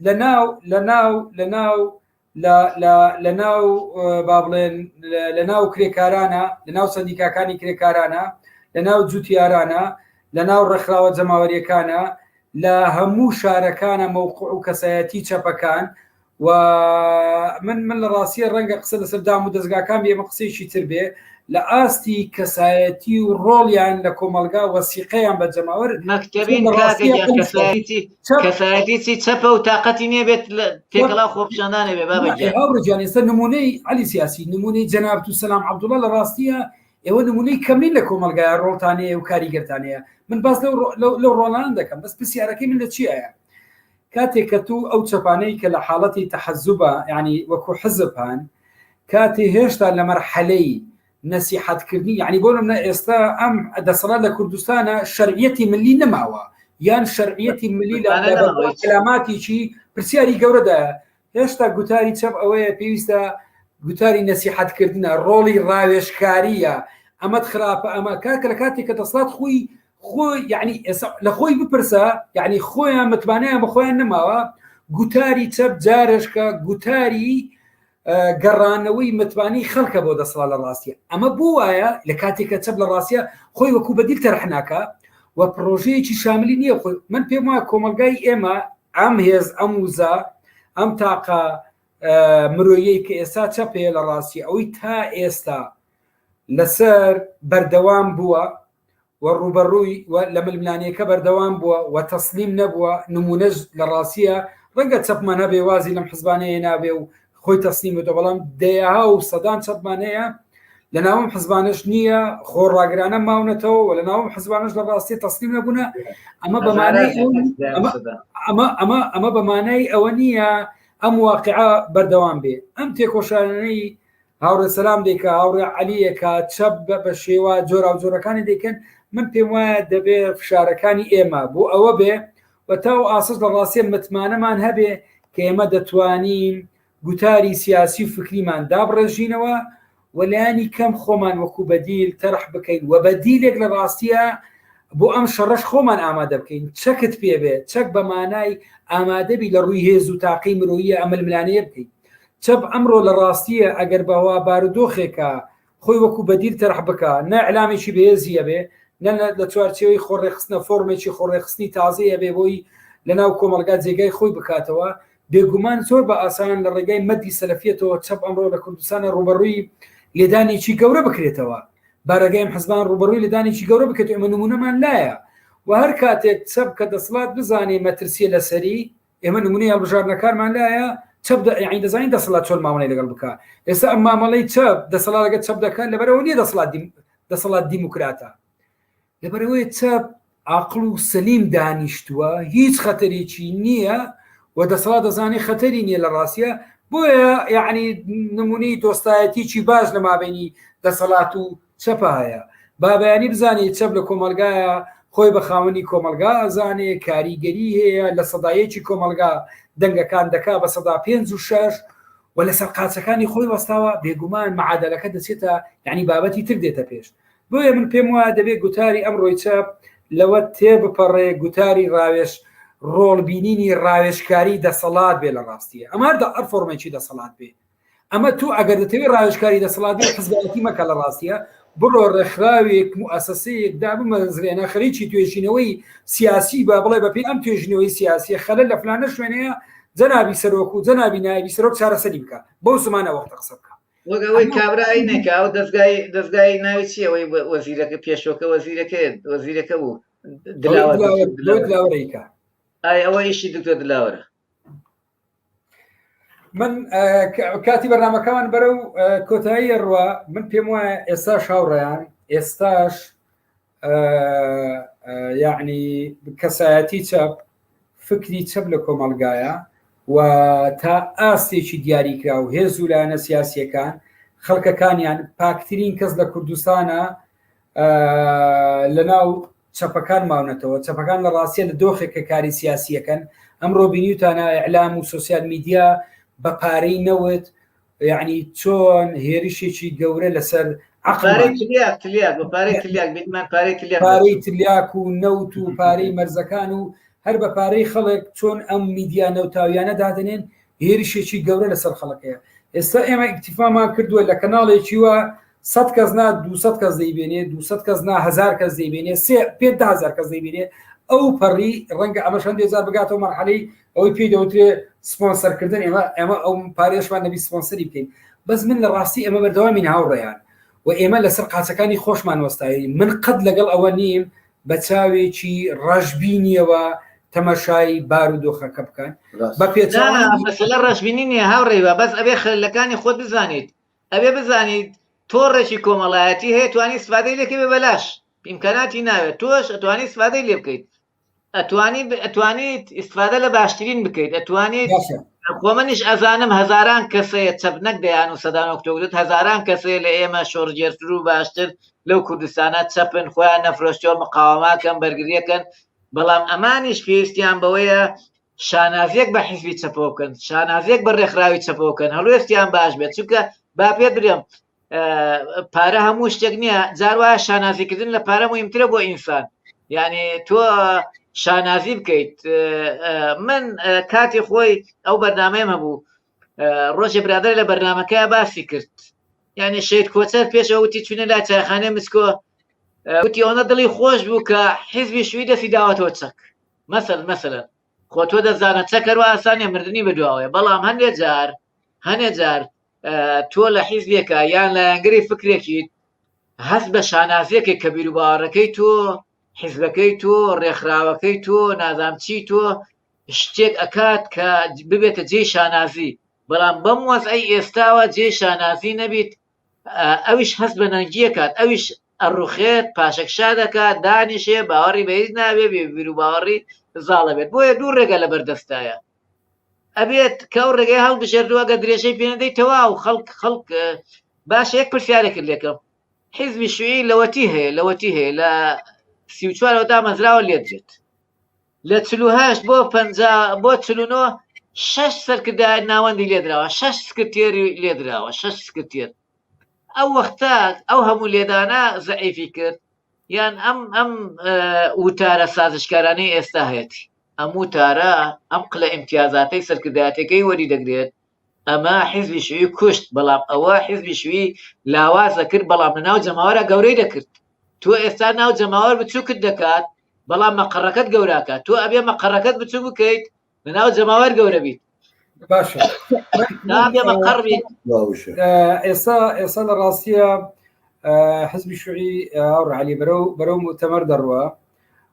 لە ناو لە ناو لە ناو لە ناو با بڵێن لە ناو کرێکارانە لە ناو سندیکاکانی کرێکارانە لە ناو جوتیارانە لە ناو ڕێکخراوە جەماوەریەکانە لە هەموو شارەکانە مەوقع و کەسایەتی چەپەکان و من من لە ڕاستیە ڕەنگە قسە لەسەر دام و دەستگاکان بێمە قسەیەکی تر بێ لە ئاستی کەسایەتی و ڕۆڵیان لە کۆمەلگا وەسیقەیان بە جەماوەر مەکتتەبین کەسایەتیی چەپە و تااقەتی نێبێت لە تێکەڵا خۆپشاندانێ بێ بابەجان ئێستا نمونەی علی سیاسی نمونەی جەنابت و سلام عبدوڵە لە ڕاستیە ئێوە نمونەی کەمین لە کۆمەلگای ڕۆڵتانەیە و کاریگەرتانەیە من باس لەو ڕۆڵان دەکەم بەس پرسیارەکەی من لە چیایە کاتێ کە تو ئەو چەپانەی کە لە حاڵەتی تەحەزوبە یانی وەکو حزب هان کاتێ هێشتا لە مەرحەلەی نەسیحەت کردنی یانی بۆ نمونە ئێستا ئەم دەسەڵات لە کوردستانە شەرعیەتی ملی نەماوە یان شەرعیەتی ملی لە کەلاماتیی پرسیاری گەورەدایە هێشتا گوتاری چەپ ئەوەیە پێویستە گوتاری نەسیحەتکردنە ڕۆڵی ڕاوێشکاریە ئەمەد خراپە ئەمە کاکە لە کاتێک کە دەسڵات خۆی خۆ یعنی لە خۆی بپرسە یعنی خۆیان متمانیان بە خۆیان نەماوە گوتاری چەپ جارشکە گوتاری گەڕانەوەی متمانی خەڵکە بۆ دەسڵا لە ڕاستە ئەمە بۆ وایە لە کاتێکە چەپ لە ڕاستە خۆی وەکو بەدیل تەرحناکە و پرۆژەیەکی شاملی نییە خۆی من پێم وایە کۆمەلگای ئێمە ئەم هێز ئەم وزە ئەم تاقە مرۆیەی کە ئێستا چەپەیە لە ڕاستی ئەوەی تا ئێستا لەسەر بەردەوام بووە و ڕوبەڕووی لە ململانەیەکە بەردەوام بووە و تەسلیم نەبووە نمونەش لە ڕاستە ڕەنگە چەپمانە بێوازی لەم حزبانەیە نابێ و خۆی تەسلیم بێتەوە بەڵام دەیەها و سەدان چەپمان هەیە لە ناوم حزبانش نییە خۆ ڕاگرانە ماونەتەوە و لە ناوم حزبانش لە ڕاستی تەسلیم نەبوونە ئەمە بەمانەی ئەمە ئەمە ئەمە بەمانای ئەوە نییە ئەم واقعە بەردەوام بێ ئەم تێکۆشانەی هاوڕێ سەسلام دێکە هاوڕێ علیەکە چەپ بە شێوە جۆرا و جۆرەکانی دەکەن من پێم وایە دەبێ فشارەکانی ئێمە بۆ ئەوە بێ بە تا و ئاسەس لە ڕاستیە متمانەمان هەبێ کە ئێمە دەتوانین گوتاری سیاسی و فکریمان دابڕێژینەوە و لایانی کەم خۆمان وەکو بەدیل تەرح بکەین و بەدیلێک لە ڕاستیە بۆ ئەم شەڕەش خۆمان ئامادە بکەین چەکت پێبێ چەک بە مانای ئامادەبی لە ڕووی هێز و تاقی مرۆیە ئەململانەیە بکەین چەپ ئەمڕۆ لە ڕاستیە ئەگەر بەوا بارودۆخێکە خۆی وەکو بەدیل تەرح بکا نە ئیعلامێکی بەهێزی ئەبێ نە لە چوارچێوەی خۆڕێخستنە فۆرمێکی خۆڕێخستنی تازەیە بێ بۆی لەناو کۆمەلگا جێگای خۆی بکاتەوە بێگومان زۆر بە ئاسان لە ڕێگای مەدی سەلەفیەتەوە چەپ ئەمڕۆ لە کوردستانە ڕوبەڕووی لێدانێکی گەورە بکرێتەوە بارەگەیم حزبان ڕوبەڕووی لەدانێکی گەورە بکرێت ئەمە نمونەمان لایە و هەر کاتێک چەپ کە دەسڵات بزانێ مەترسیە لەسەری ئێمە نمونەی هەڵبژاردنەکانمان لایە چەپ دە- یعنی دەزانین دەسەڵات چۆن مامەڵەی لەگەڵ بکە ئێستا ئەم مامەڵەی چەپ دەسەڵات لەگەڵ چەپ دەکات لەبەرەوە نیە دەسەڵات دیم- دەسەڵات دیموکراتە لەبەرەوەی چەپ عاقڵ و سەلیم دانیشتووە هیچ خەتەرێکی نییە و دەسەڵات دەزانێ خەتەری نییە لە ڕاستە بۆیە یعنی نمونەی دۆستایەتیی باش لە مابینی دەسەڵات و چەپایە بابەیانی بزانێ چەپ لە کۆمەڵگایە خۆی بە خاوەنی کۆمەلگا ئەزانێ کاریگەری هەیە لە سەدایەکی کۆمەلگا دەنگەکان دەکا بە سەدا پێنج و شەش و لەسەر قاچەکانی خۆی وەستاوە بێگومان معادلەکە دەچێتە یعنی بابەتی تر دێتە پێش بۆیە من پێم وایە دەبێت گوتاری ئەم ڕۆی چەپ لەوە تێ بپەڕێ گوتاری ڕاوێش ڕۆڵبینینی ڕاوێشکاری دەسەڵات بێ لە ڕاستیە ئەمار دە ئەرفۆرمێکی دەسەڵات بێ ئەمە تۆ ئەگەر دەتەوێت ڕاوێژکاری دەسەڵات حزبەتی مەکە لە ڕاستە بڕۆ ڕێکخراوێک موسسەیەک دا بمەزرێنە خەریکی توێژینەوەی سیاسی بە بڵێ بە پێی ئەم توێژینەوەی سیاسی خەلە لە فلانە شوێنەیە جەنابی سەرۆک و جەنابی نایبی سەرۆک چارەسەری بکە بۆ زمانە وەخت قسە بکە وەگەوەی کابرای نەکە ئەو دەستگای دەستگای ناوی چیەوەی وەزیرەکە پێشۆکە وەزیرەکە وەزیرەکە بوو دلاوەیکە ئای ئەوە ئیشی دکتۆر دلاوەرە من کاتی بەرنمەکەمان بەرە و کۆتایی ڕوە من پێم وایە ئێستا شاوڕیان ئێستاش یعنی کەسایەتی چەپ فکری چەپ لە کۆمەلگایە و تا ئاستێکی دیاریکرا و هێز و لایەنە سیاسیەکان خەڵکەکانیان پاکترین کەس لە کوردستانە لە ناو چەپەکان ماونەتەوە، چەپەکان لە ڕاستیە لە دۆخێکە کاری سیاسی ئەکەن، ئەمڕۆ بینیوتانە ئیعلام و سۆسیال میدیا بە پارەی نەوت یعنی چۆن هێرشێکی گەورە لەسەر پارەی تلیاک تلیاک بە پارەی تلیاک بینمان پارەی تلیاک پارەی تلیاک و نەوت و پارەی مەرزەکان و هەر بە پارەی خەڵک چۆن ئەم میدیا نەوتاویانە دادنێن هێرشێکی گەورە لەسەر خەڵک هەیە ئێستا ئێمە ئیکتیفامان کردووە لە کەناڵێکی وە سە کەس نا دو کەس دەیبێنێ دو کەس نا هزار کەس دەیبێنێ سێ پێ هزار کەس دەیبێنێ ئەو پەڕی ڕەنگە ئەمە شەندێ جار بگاتەوە مەرحەلەی ئەوەی پێی دەوترێ سپۆنسەرکردن ئێمە ئەمە ئەو پارێشمان نەبی سپۆنسەری بکەین بەس من لە ڕاستی ئەمە بەردەوامی هاوڕێیان و ئێمە لەسەر قاچەکانی خۆشمان وەستایی من قەت لەگەڵ ئەوە نیم بە چاوێکی ڕەشبینیەوە تەمەشای بارودۆخەکە بکەن بە پێ مەسلە ڕەشبینی نیە هاوڕێوە بەس ئەبێ خلەکانی خۆت بزانیت ئەبێ بزانیت تۆڕێکی کۆمەڵایەتی هەیە توانی سفادەی لەکە بێ بەلاش ئیمکاناتی ناوێت تۆش ئەتوانی سفادەی لێ بکەیت ئەتوانی ئەتوانیت ئیسفادە لە باشترین بکەیت ئەتوانیت خۆمەنیش ئەزانم هەزاران کەسەیە چەپ نەک دەیان و سەدان ئۆکتۆبرت هەزاران کەسەیە لە ئێمە شۆڕگێرتر و باشتر لەو کوردستانە چەپن خۆیان نەفرۆشتەوە مقاوەماکەن بەرگریەکەن بەڵام ئەمانیش پێویستیان بەوەیە شانازیەک بە حیزبی چەپەوە بکەن شانازیەک بە ڕێکخراوی چەپەوە بکەن هەڵوێستیان باش بێت چونکە با پێ برێم پارە هەموو شتێک نییە جاروە شانازیکردن لە پارە مهمترە بۆ ئینسان یعنی تۆ شانازی بکەیت من کاتی خۆی ئەو بەرنمەیەم هەبوو ڕۆژێ برادر لە بەرنمەکە باسی کرد یعنی شێت کۆچەر پێشەوە وتی چونە لا چایخانێ مسکۆ وتی ئەوە دڵی خۆش بوو کە حیزبی شووی دەسی داوەتەوە چەک مەسەر مەسەرە خۆ تۆ دەزانە چەکەرو ئاسانە مردنی بەدواوەیە بەڵام هەندێک جار هەندێک جار تۆ لە حیزبێکە یان لایەنگری فکرێکیت هەست بە شانازیەکە کە بیروبارەکەی تۆ حیزبەکەی تۆ ڕێکخراوەکەی تۆ نازام چی تۆ شتێک ئەکات کە ببێتە جێی شانازی بەڵام بەم وەزعی ئێستاوە جێ شانازی نەبیت ئەویش هەست بە نەنگیەکات ئەویش ئەڕوخێت پاشەکشا دەکات دانیشێ باوەڕی بەهیز ناوێ بێبیر و باوەڕی زاڵە بێت بۆیە دوو ڕێگە لە بەردەستایە ئەبێت کە ئەو ڕێگەی هەڵ بژێردووە گە درێژەی پێندەی تەوا و خەڵک خەڵک باش یەک پرسیارێکرد لێکەم حیزبی شوێی لەوەتی هەیە لەوەتی هەیە لە سیچوارەوە دامەزراوە لێدرێت لە چل و هەشت بۆ پەنجا بۆ چل و نۆ شەش سەرکردایەت ناوەندی لێدراوە شەش سکرتێری لێدراوە شەش سکرتێر ئەو وەختە ئەو هەموو لێدانە زەعیفی کرد یان ئەم ئەم وتارە سازشکارانەی ئێستا هەیەتی ئەم وتارە ئەم قلە ئیمتیازاتەی سەرکردایەتەکەی وەری دەگرێت ئەمە حیزبی شیوعی کوشت بەڵام ئەوە حیزبی شیوعی لاواز دەکرد بەڵام لەناو جەماوەرا گەورەی دەکرد تۆ ئێستا ناو جەماوەر بچووکت دەکات بەڵام مەقەڕەکەت گەوراکە تۆ ئەبێ مەقەڕەکەت بچوو بکەیت لەناو جەماوەر گەورە بیت باشە نابێ مەقەڕ بیت باوشە ئە، ئێستا ئێستا لە ڕاستیە ئە، حزبی شوعی ئاڕ علی بەرەو بەرەو مؤتەمەر دەڕوە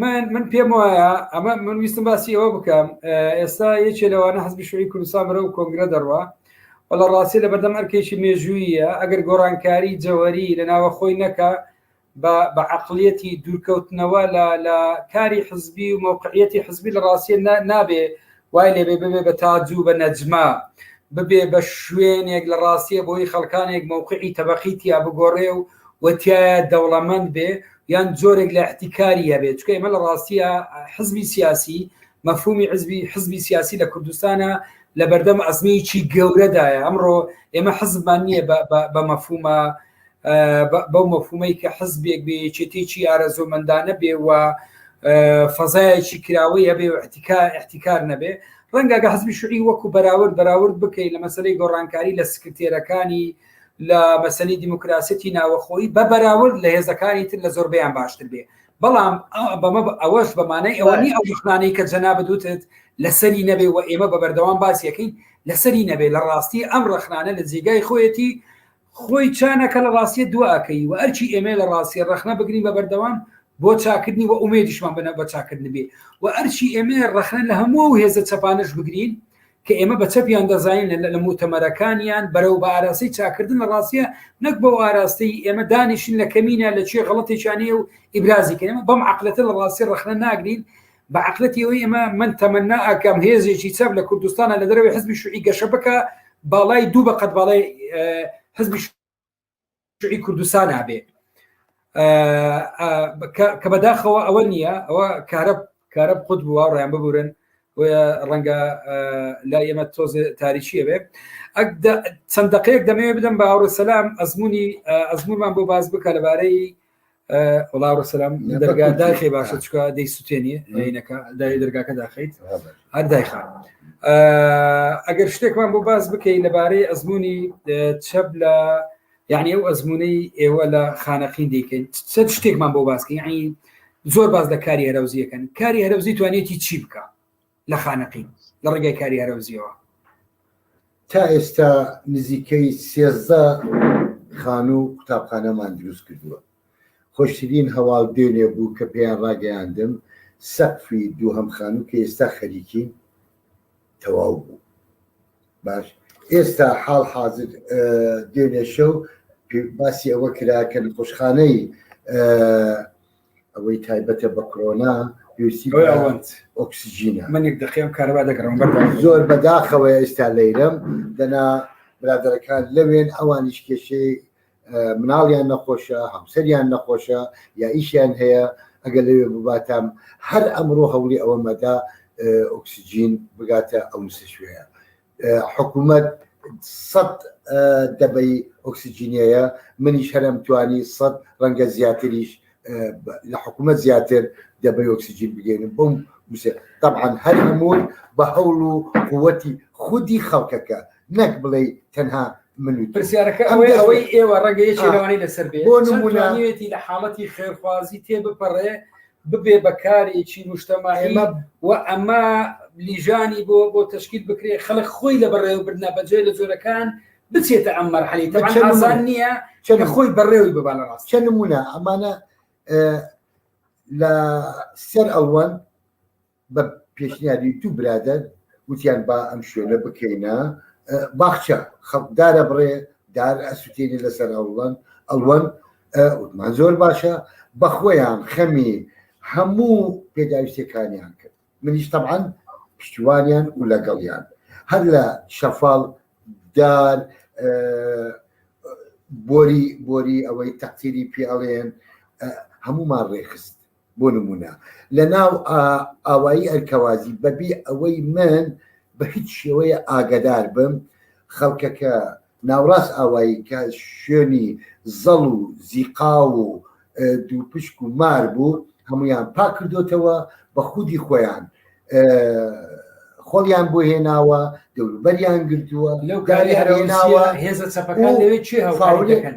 من من پێم وایە ئەمە من ویستم باسی ئەوە بکەم ئێستا یەکێ لەوانە حزبی شوی کوردستان بەرە و کۆنگرە دەڕوە و لە ڕاستی لە بەردەم ئەرکێکی مێژوویە ئەگەر گۆڕانکاری جەوەری لە ناوە خۆی نەکە بە عقلیەتی دوورکەوتنەوە لە کاری حزبی و مووقعەتی حزبی لە ڕاستیە نابێ وای لێبێ ببێ بە تاج و بە نەجمە ببێ بە شوێنێک لە ڕاستیە بۆی خەڵکانێک مەوقعی تەبەقی تیا بگۆڕێ و وتیایە دەوڵەمەند بێ یان زۆرێک لە احتیکاری هەبێت چکە ئمە لە ڕاستیە حزبی سیاسی مەفهومی حزبی حزبی سیاسی لە کوردستانە لە بەردەم ئەزمیی گەورەدایە ئەمڕۆ ئێمە حزبمان نییە بە مەفهومە بەو مەفهومەی کە حزبێک بێ یەکێتێکی ئارەزۆمەندانە بێ و فەزایەکی کراوەی هەبێ و احتیکار نەبێ ڕەنگەگە حزبی شوعی وەکو بەراورد بەراورد بکەیت لە مەسلەی گۆڕانکاری لە سکرتێرەکانی لە مەسلی دیموکراسەتی ناوەخۆی بە بەراورد لە هێزەکانی تر لە زۆربیان باشتر بێ بەڵام بەمە ئەوەش بەمانای ئەوەنی ئەو دخنانەی کە جەنا بدوتت لەسەری نەبێ و ئێمە بە بەردەوام باسیەکەین لەسەری نەبێ لە ڕاستی ئەم ڕخنانە لە جێگای خۆیەتی خۆی چا نەکە لە ڕاستیە دوا ئەکەی وە ئەرکی ئێمەیە لە ڕاستیە ڕەخنە بگرین بە بەردەوام بۆ چاکردنی وە ئومێدیشمان بنە بە چاکردن بێ وە ئەرکی ئێمەیە ڕەخنە لە هەموو ئەو هێزە چەپانەش بگرین کە ئێمە بە چەپیان دەزانین لە موتەمەرەکانیان بەرەو بە ئاراستەی چاکردن لە ڕاستیە نەک بەو ئاراستەی ئێمە دانیشن لە کەمینە لە چێ غڵەتێکیانەیە و ئیبرازی کە ئێمە بەم عقلەتە لە ڕاستی ڕەخنە ناگرین بە عقلەتی ئەوەی ئێمە من تەمەنا ئەکەم هێزێکی چەپ لە کوردستانە لە دەرەوەی حزبی شوعی گەشە بکە باڵای دوو بە قەت باڵای حزبی شوعی کوردستان هەبێ کە بەداخەوە ئەوە نییە ئەوە کارە کارە خود بووە ڕیان ببورن ڕەنگە لا ئێمە تۆز تاریچیە بێ چەند دقەیەک دەمەوێت بدەم بە هاوڕ سەسلام ئەزمموی ئەزممومان بۆ باز بکە لەبارەی وڵاڕ سلام دەرگادا خێ باشە چکە دەی سوتێنی عینەکە دای دەرگاکە داخیت هەر دایخا ئەگەر شتێکمان بۆ باز بکەین لەبارەی ئەزمموی چەپ لە یعنی ئەو ئەزمموی ئێوە لە خانەقین دیکەین چەند شتێکمان بۆ باسکە یعنی زۆر باز لە کاری هەرەوزیەکەن کاری هەرەوزی توانێتی چی بکە لە خانەقین لە ڕێگای کاری هەرەوزیەوە. تا ئێستا نزیکەی سێزدە خانوو و قوتابخانەمان دروست کردووە، خۆشترین هەواڵ دوێنێ بوو کە پێیان ڕاگەیاندم سەقفی دووهەم خانوو کە ئێستا خەریکین تەواو بوو. باش ئێستا حاڵ حازر دوێنێ شەو باسی ئەوە کرا کە نەخۆشخانەی ئەوەی تایبەتە بە کڕۆنا پێویستی ئۆکسسیجینە منێک دەقیم کارەبا دەگەڕم زۆر بەداخەوە ئێستا لەیرم دەنا برادەرەکان لەوێن ئەوانیش کێشەی مناڵیان نەخۆشە هەمسەریان نەخۆشە یا ئیشیان هەیە ئەگەر لەوێ بباتام هەر ئەمڕۆ هەوڵی ئەوە مەدا ئۆکسسیجین بگاتە ئەو نسە شوێە حکوومەت سەد دەبەی ئۆکسسیجینەیە منیش هەرم توانی سەد ڕەنگە زیاتریش لە حکوومەت زیاتر دەبەی ئۆکسسیجین بگەین بم طبعاان هەر هەمووی بە هەوڵ و قوتی خودی خەڵکەکە نەک بڵێ تەنها من پرسیارەکە ئەوەی ئەوەی ئێوە ڕەنگەیەکی لەوانی لەسەر بێ بۆ نمونانیێتی لە حاڵەتی خێرخوازی تێ بپەڕێ ببێ بە کارێکی مشتەماعی و ئەمە لیژانی بۆ بۆ تشکیل بکرێ خەڵک خۆی لە بەڕێوەبردنە بەجێ لە جۆرەکان بچێتە ئەم مەرحەلی تەزان نییە چەند خۆی بەڕێوی ببا لە ڕاست چەند نمونە ئەمانە لە سەر ئەوەن بە پێشنیاری دوو برادەر وتیان با ئەم شوێنە بکەینە باخچە خەڵک دارە بڕێ دار ئەسوتێنی لەسەر ئەوڵەن ئەڵوەن وتمان زۆر باشە بەخۆیان خەمی هەموو پێداویستەکانیان کرد منیش تەعاان پشتیوانیان و لەگەڵیان هەر لە شەفاڵ دار بۆری بۆری ئەوەی تەقتیری پیاڵێن هەمومان ڕێخست بۆ نمونە لە ناو ئاوایی ئەلکەوازی بەبی ئەوەی من بە هیچ شێوەیە ئاگدار بم خەڵکەکە ناوڕاست ئاوایی کە شوێنی زەڵ و زیقا و دووپشک و مار بوو هەمویان پاک کردوتەوە بە خودی خۆیان خۆڵیان بۆ هێناوە دەوروبەریان گردووە لەو گاری هەرێناوە هێزە چەپەکان لەوێ چێ هەڵکاری دەکەن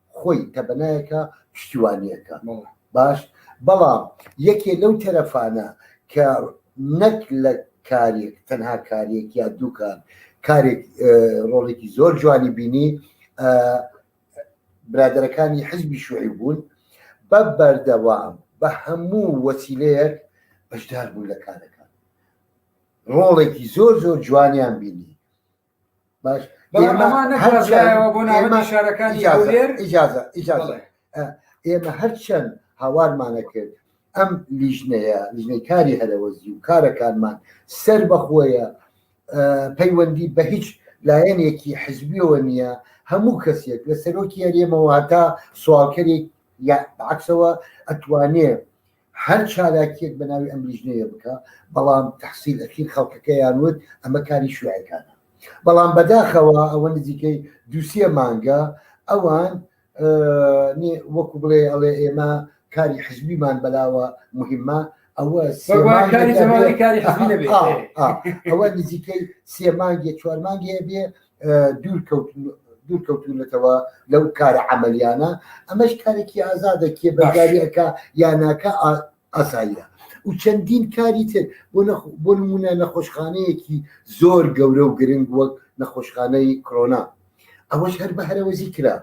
خۆی تەبەنایەکە پشتیوانیەکە باش بەڵام یەکێ لەو تەرەفانە کە نەک لە کارێک تەنها کارێک یا دووکار کارێک ڕۆڵێکی زۆر جوانی بینی برادەرەکانی حزبی شوعی بوون بە بەردەوام بە هەموو وەسیلەیەک بەشدار بوون لە کارەکان ڕۆڵێکی زۆر زۆر جوانیان بینی باش ئیجازە ئیجازە ئێمە هەرچەند هاوارمانە کرد ئەم لیژنەیە لیژنەی کاری هەرەوەزی و کارەکانمان سەر بەخۆیە پەیوەندی بە هیچ لایەنێکی حزبیەوە نییە هەموو کەسێک لە سەرۆکی هەرێمەوە هەتا سوالکەرێک یا بەعکسەوە ئەتوانێ هەر چالاکیەک بە ناوی ئەم لیژنەیە بکە، بەڵام تەحسیل ئەکین خەڵکەکەیان وت ئەمە کاری شیوعیەکانە. بەڵام بەداخەوە ئەوە نزیکەی دوو سێ مانگە ئەوان وەکو بڵێ ئەڵێ ئێمە کاری حزبیمان بەلاوە مهمە ئەوە ئەوە نزیکەی سێ مانگێ چوار مانگێ بێ دوورکەوتونەتەوە لەو کارە عملیانە ئەمەش کارێکی ئازادە کێ بەداریەکە یاناکە ئاساییە و چەندین کاری تر بۆ نمونە نەخۆشخانەیەکی زۆر گەورە و گرنگ وەک نەخۆشخانەی کرۆنا ئەوەش هەر بە هەرەوەزی کرا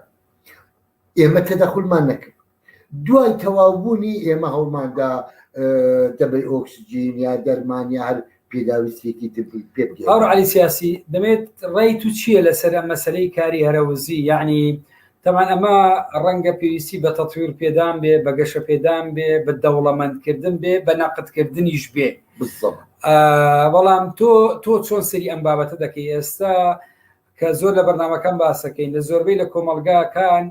ئێمە تەدەخلمان نەکرد دوای تەواوبوونی ئێمە هەوڵماندا دەبەی ئۆکسجین یا دەرمان یا هەر پێداویستێکی تر پێ بگەین. باوڕ علی سیاسی دەمێت ڕێی تو چییە لەسەر ئەم مەسلەی کاری هەرەوزی یعنی تەمان ئەمە ڕەنگە پێویستی بە تەطویر پێدان بێ بە گەشە پێدان بێ بە دەوڵەمەندکردن بێ بە نەقدکردنیش بێ بالضبط آه، بەڵام تۆ تۆ چۆن سری ئەم بابەتە دەکەی ئێستا کە زۆر لە بەرنمەکان باسەکەین لە زۆربەی لە کۆمەلگاکان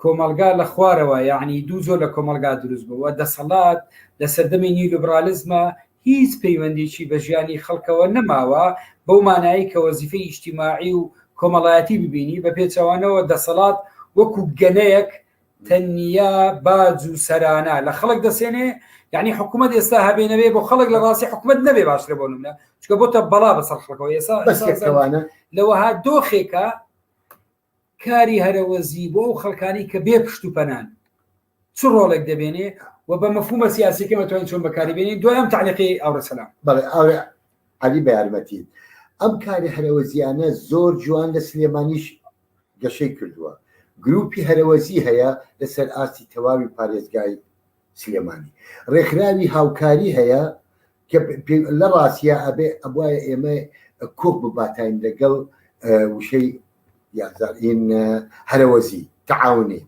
کۆمەڵگا لە خوارەوە یەعنی دوو جۆر لە کۆمەڵگا دروست بووە و دەسەڵات لە سەردەمی نیولیبڕالیزما هیچ پەیوەندیەکی بە ژیانی خەڵکەوە نەماوە بەو مانایەی کە وەزیفەی ئیجتیماعی و کۆمەڵایەتی ببینی بە پێچەوانەوە دەسەڵات وەکو گەنەیەک تەنیا باج و سەرانە لە خەڵک دەسێنێ یعنی حکوومەت ئێستا هەبێ نەبێ بۆ خەڵک لە ڕاستی حکوومەت نەبێ باشترە بۆ نمونە چکە بۆتە بەڵا بەسەر خەڵکەوە ئێستا بەسەوانە لەوەها دۆخێکە کاری هەرەوەزی بۆ ئەو خەڵکانەی کە بێ پشت و پەنان چ ڕۆڵێک دەبێنێ و بە مەفهومە سیاسیەکە مەتوانین چۆن بەکاری بێنین دوایان تعلیقی ئەوڕە سەلام بەڵێ ئەوێ علی بە یارمەتی ئەم کاری هەرەوەزیانە زۆر جوان لە سلێمانیش گەشەی کردووە گروپی هەرەوەزی هەیە لەسەر ئاستی تەواوی پارێزگای سلێمانی ڕێکخراوی هاوکاری هەیە کە لە ڕاستیا ئەبێ ئەبوایە ئێمە کۆک بباتین لەگەڵ وشەی یازارین هەرەوەزی تەعاونی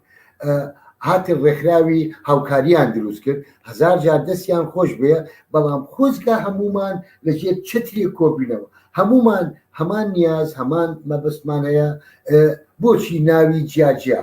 هاتن ڕێکخراوی هاوکاریان دروست کرد هزار جار دەستیان خۆش بێ بەڵام خۆزگە هەمومان لەژێر چتری کۆبینەوە هەمومان هەمان نیاز هەمان مەبستمان هەیە بۆچی ناوی جیاجیا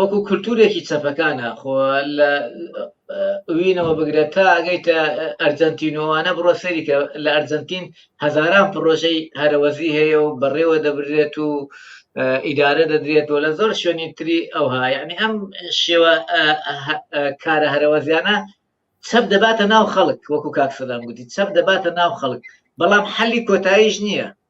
وەکو کولتورێکی چەپەکانە خۆ لە وینەوە بگرە تا ئەگەیتە ئەرجەنتینۆوانە بڕۆ سەریکە لە ئەرجەنتین هەزاران پڕۆژەی هەرەوەزی هەیە و بەڕێوە دەبرێت و ئیدارە دەدرێت و لە زۆر شوێنی تری ئەوها یعنی ئەم شێوە کارە هەرەوەزیانە چەپ دەباتە ناو خەڵک وەکو کاک سەدام گوتی چەپ دەباتە ناو خەڵک بەڵام حەلی کۆتاییش نییە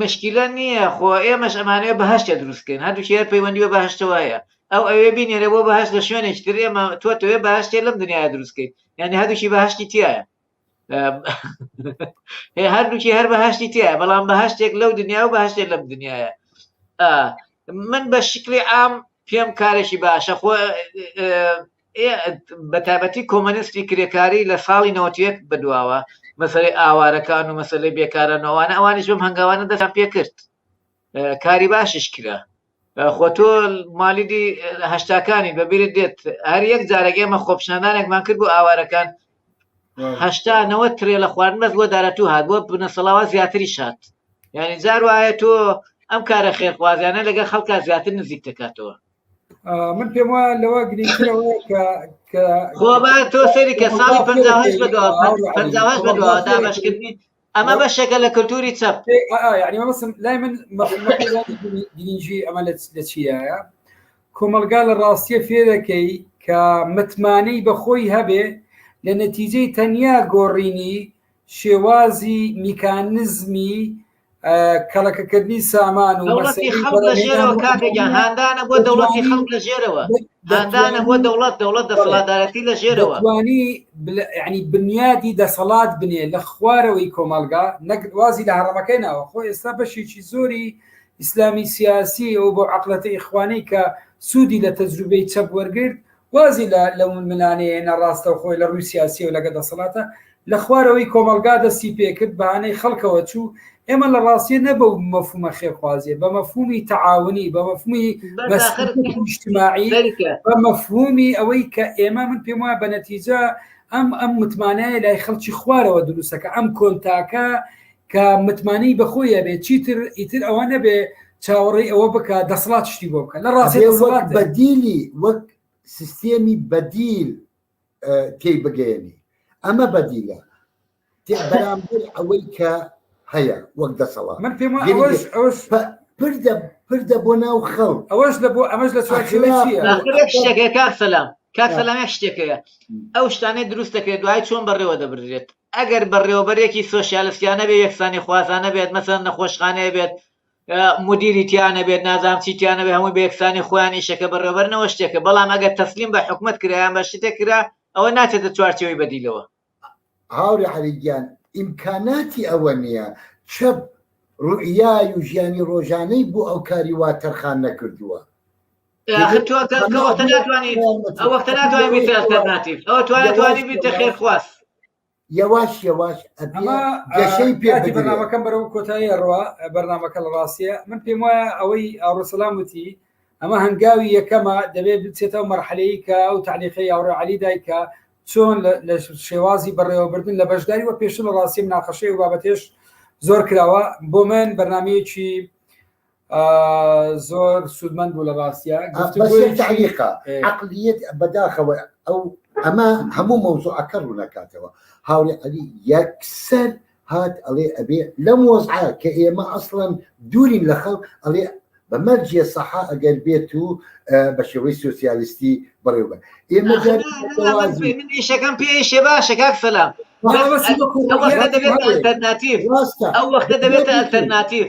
مشکیلە نییە خۆ ئێمەش ئەمانەیە بەهشتە دروستکەین هەردووکی هەر پەیوەندی بە بەهشتەوەیە ئەو ئەوێ بینێرە بۆ بەهشت لە شوێنێکی تر ئێمە تۆ تەوێ باشتێ لەم دنیاە دروستکەیت یعنی هەردووکی بەهشتی تایە هەردووکی هەر بەهشتی تایە بەڵام بەهشتێک لەو دنیا و بەهشتێ لەم دنیاە من بە شکلی ئام پێم کارێکی باشە خۆ بەتایبەتی کۆمۆنیستی کرێکاری لە ساڵی نەوەت و یەک بەدواوە مەسەلەی ئاوارەکان و مەسەلەی بێکاران ئەوانە ئەوانیش بەم هەنگاوانە دەستیان پێ کرد کاری باشیش کرا خۆ تۆ مالیدی هەشتاکانی بەبیرت دێت هەر یەک جارێک ئێمە خۆپشاندانێکمان کرد بۆ ئاوارەکان هەشتا نەوە ترێ لە خوارد مەز بۆ دارەتوو هات بۆ بنەسەڵاوە زیاتری شات یعنی جار وایە تۆ ئەم کارە خێرخوازیانە لەگە خەڵکە زیاتر نزیک دەکاتەوە من پێم وایە لەوە گرنگترەوە کە کە خۆ با تۆ سەری کە ساڵی 58 بە دوا 58 بە دوا دامەشکردنی ئەمە بەشێکە لە کللتوری چەپ یعنی مەسم لای من گرنگی ئەمە لە چیایە کۆمەلگا لە ڕاستیە فێرەکەی کە متمانەی بەخۆی هەبێ لە نەتیجەی تەنیا گۆڕینی شێوازی میکانزمی کەڵەکەکردنی سامان و دەوڵەتی خەڵک لە ژێرەوە کاکەگیان هاندانە بۆ دەوڵەتی خەڵک لە ژێرەوە هاندانە بۆ دەوڵەت دەوڵەت دەسەڵاتدارەتی لە ژێرەوە توانی ینی بنیادی دەسەڵات بنێ لە خوارەوەی کۆمەلگا نەگوازی لە هەڕەمەکەی ناوە خۆ ئێستا بەشێکی زۆری ئیسلامی سیاسی ئەو بۆ عقلەتی ئیخوانی کە سوودی لە تەجروبەی چەپ وەرگرت وازی لە لەو ململانێیە ناڕاستەوخۆی لە ڕووی سیاسی و لەگە دەسەڵاتە لە خوارەوەی کۆمەڵگا دەستی پێکرد بەانەی خەڵکەوە چوو ئێمە لە ڕاستیە نە بەو مەفومە خێرخوازیە بە مەفهومی تەعاونی بە مەفهومی نیشتماعی بە مەفهومی ئەوەی کە ئێمە من پێم وایە بە نەتیجە ئەم ئەم متمانەیە لای خەڵکی خوارەوە دروستەکە ئەم کۆنتاکە کە متمانەی بەخۆی هەبێ چیتر ئیتر ئەوە نەبێ چاوەڕێی ئەوە بکە دەسڵات شتی بۆ بکە لە ڕاستی بەدیلی وەک سیستێمی بەدیل تێی بگەێنی ئەمە بەدیلە بەرامبەر ئەوەی کە هەیە وەک دەسەڵات من پێم پردە پردە بۆ ناو خەڵ ئەوەش لە بۆ ئەمەش لە شتێکەکە سەلام کاک سەلامیان شتێکەیە ئەو شتانەی دروستەکە دوای چۆن بەڕێوە دەبرێت ئەگەر بەڕێوەبەرێکی سۆشیالستیانە بێت یەکسانی خوازانە بێت مەسەلەن نەخۆشخانەیە بێت مدیری تیانەبێت نازام چی تیانەبێت هەمووی بە یەکسانی خۆیان ئیشەکە بەڕێوەبەرنەوە شتێکە بەڵام ئەگەر تەسلیم بە حکومەت کرایان بە شتێک کرا ئەوە ناچێتە چوارچێوەی بەدیلەوە هاوری عەلی گیان ئیمکاناتی ئەوە نییە چەپ ڕوئیای و ژیانی ڕۆژانەی بۆ ئەو کاری وا تەرخان نەکردووە. خێرخواست یەواش یەواش گەشەی پێ بەنامەکەم بەرەو کۆتایی ڕوا بەرنمەکە لە ڕاستە من پێم وایە ئەوەی ئاڕۆسەلام وتی ئەمە هەنگاوی یەکەمە دەبێت بچێتەوە مەرحەلەیە کە ئەو تعلیقی یاڕۆ علی دایکە چۆن لە شێوازی بەڕێوەبردن لە بەشداری وە پێش لە ڕاستی مناقەشەی و بابەتێش زۆر کراوە بۆ من بەرنمەیەکی زۆر سوودمەند بوو لە ڕاستە تعلیقا عقلیت بەداخەوە ئەو ئەمە هەموو مەوزوعەکە ڕوونەکاتەوە هاوری علی یەکسەر هات ئەڵێ ئەبێ لەم وەزعە کە ئێمە ئەسڵەن دوورین لە خەڵک ئەڵێ بەمەرجە سەحا ئەگەر بێت و بە شێوەی سوسیالیستی بەڕێوبە ئێمە شەکەم پێ شێ باشە کاک سەلام ئەو وەختە دەبێت ئەلتەرناتیف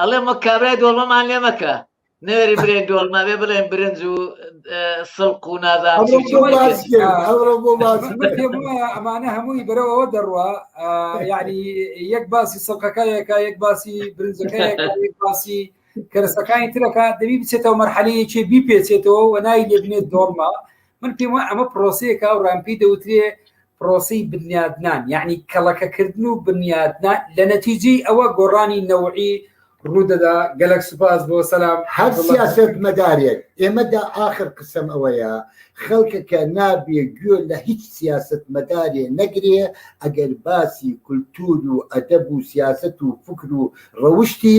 ئەڵێم وە کابرای دۆڵمەمان لێ مەکە نێری برێن دۆڵمە بێ بڵێن برنج و سڵق و نازان ئەمانە هەمووی بەرەوەەوە دەڕوە یعنی یەک باسی سڵقەکەیەکە یەک باسی برنجەکە باسی کەرسەکانی ترەکە دەبی بچێتەوە مەرحەلەیەکی بیپێچێتەوە و نای لێبنێت دۆڵمە من پێم وایە ئەمە پرۆسەیەکە و ڕام پێی دەوترێ پرۆسی بنیادنان یعنی کەڵەکەکردن و بنیادنا لە نەتیجی ئەوە گۆڕانی نەوعی ڕوودەدا گەلک سوپاس بۆ سەسلام هەر سیاست مەدارێک ئێمەدا ئاخر قسم ئەوەیە خەڵکەکە نابێ گوێ لە هیچ سیاست مەدارێ نەگرێ ئەگەر باسی کولتور و ئەدەب و سیاست و فکر و ڕەوشتی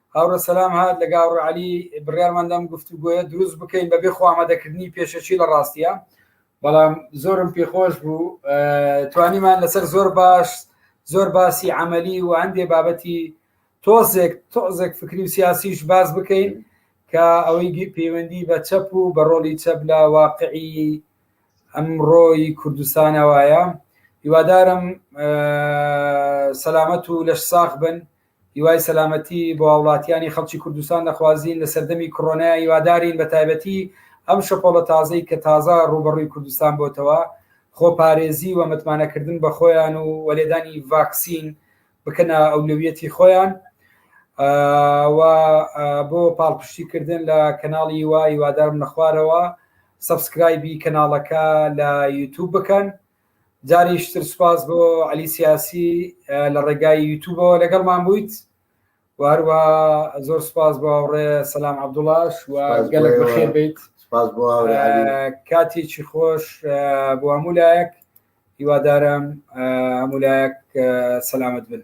هاوڕێ سەلام هات لەگە هاوڕێ عەلی بڕیارمان دام گفتوگۆیە دروست بکەین بەبێ خۆ ئامادەکردنی پێشەچی لە ڕاستیە بەڵام زۆرم پێخۆش بوو توانیمان لەسەر زۆر باش زۆر باسی عملی و هەندێ بابەتی تۆزێک تۆزێک فکری و سیاسیش باز بکەین کە ئەوەی پەیوەندی بە چەپ و بە ڕۆلی چەپ لە واقعی ئەمڕۆی کوردستانەوەیە هیوادارم سەلامەت و لەش ساخ بن هیوای سەلامەتی بۆ هاوڵاتیانی خەڵکی کوردستان دەخوازین لە سەردەمی کڕۆنایا هیوادارین بە تایبەتی ئەم شەپۆڵە تازەی کە تازە ڕووبەڕووی کوردستان بۆتەوە خۆ پارێزی و متمانەکردن بە خۆیان و وەلێدانی ڤاکسین بکەنە ئەولویەتی خۆیان و بۆ پاڵپشتی کردن لە کەناڵی وای وادارم نەخوارەوە سبسکرایبی کەناڵەکە لە یوتوب بکەن جاریش تر سوپاس بۆ علی سیاسی لە ڕێگای یوتوبەوە لەگەڵمان بوویت و هەروە زۆر سوپاس بۆ هاوڕێ سەسلام عبدوڵاش و گەلک بەخێر بیت کاتێکی خۆش بۆ هەموو لایەک هیوادارم هەموو لایەک سەلامت بن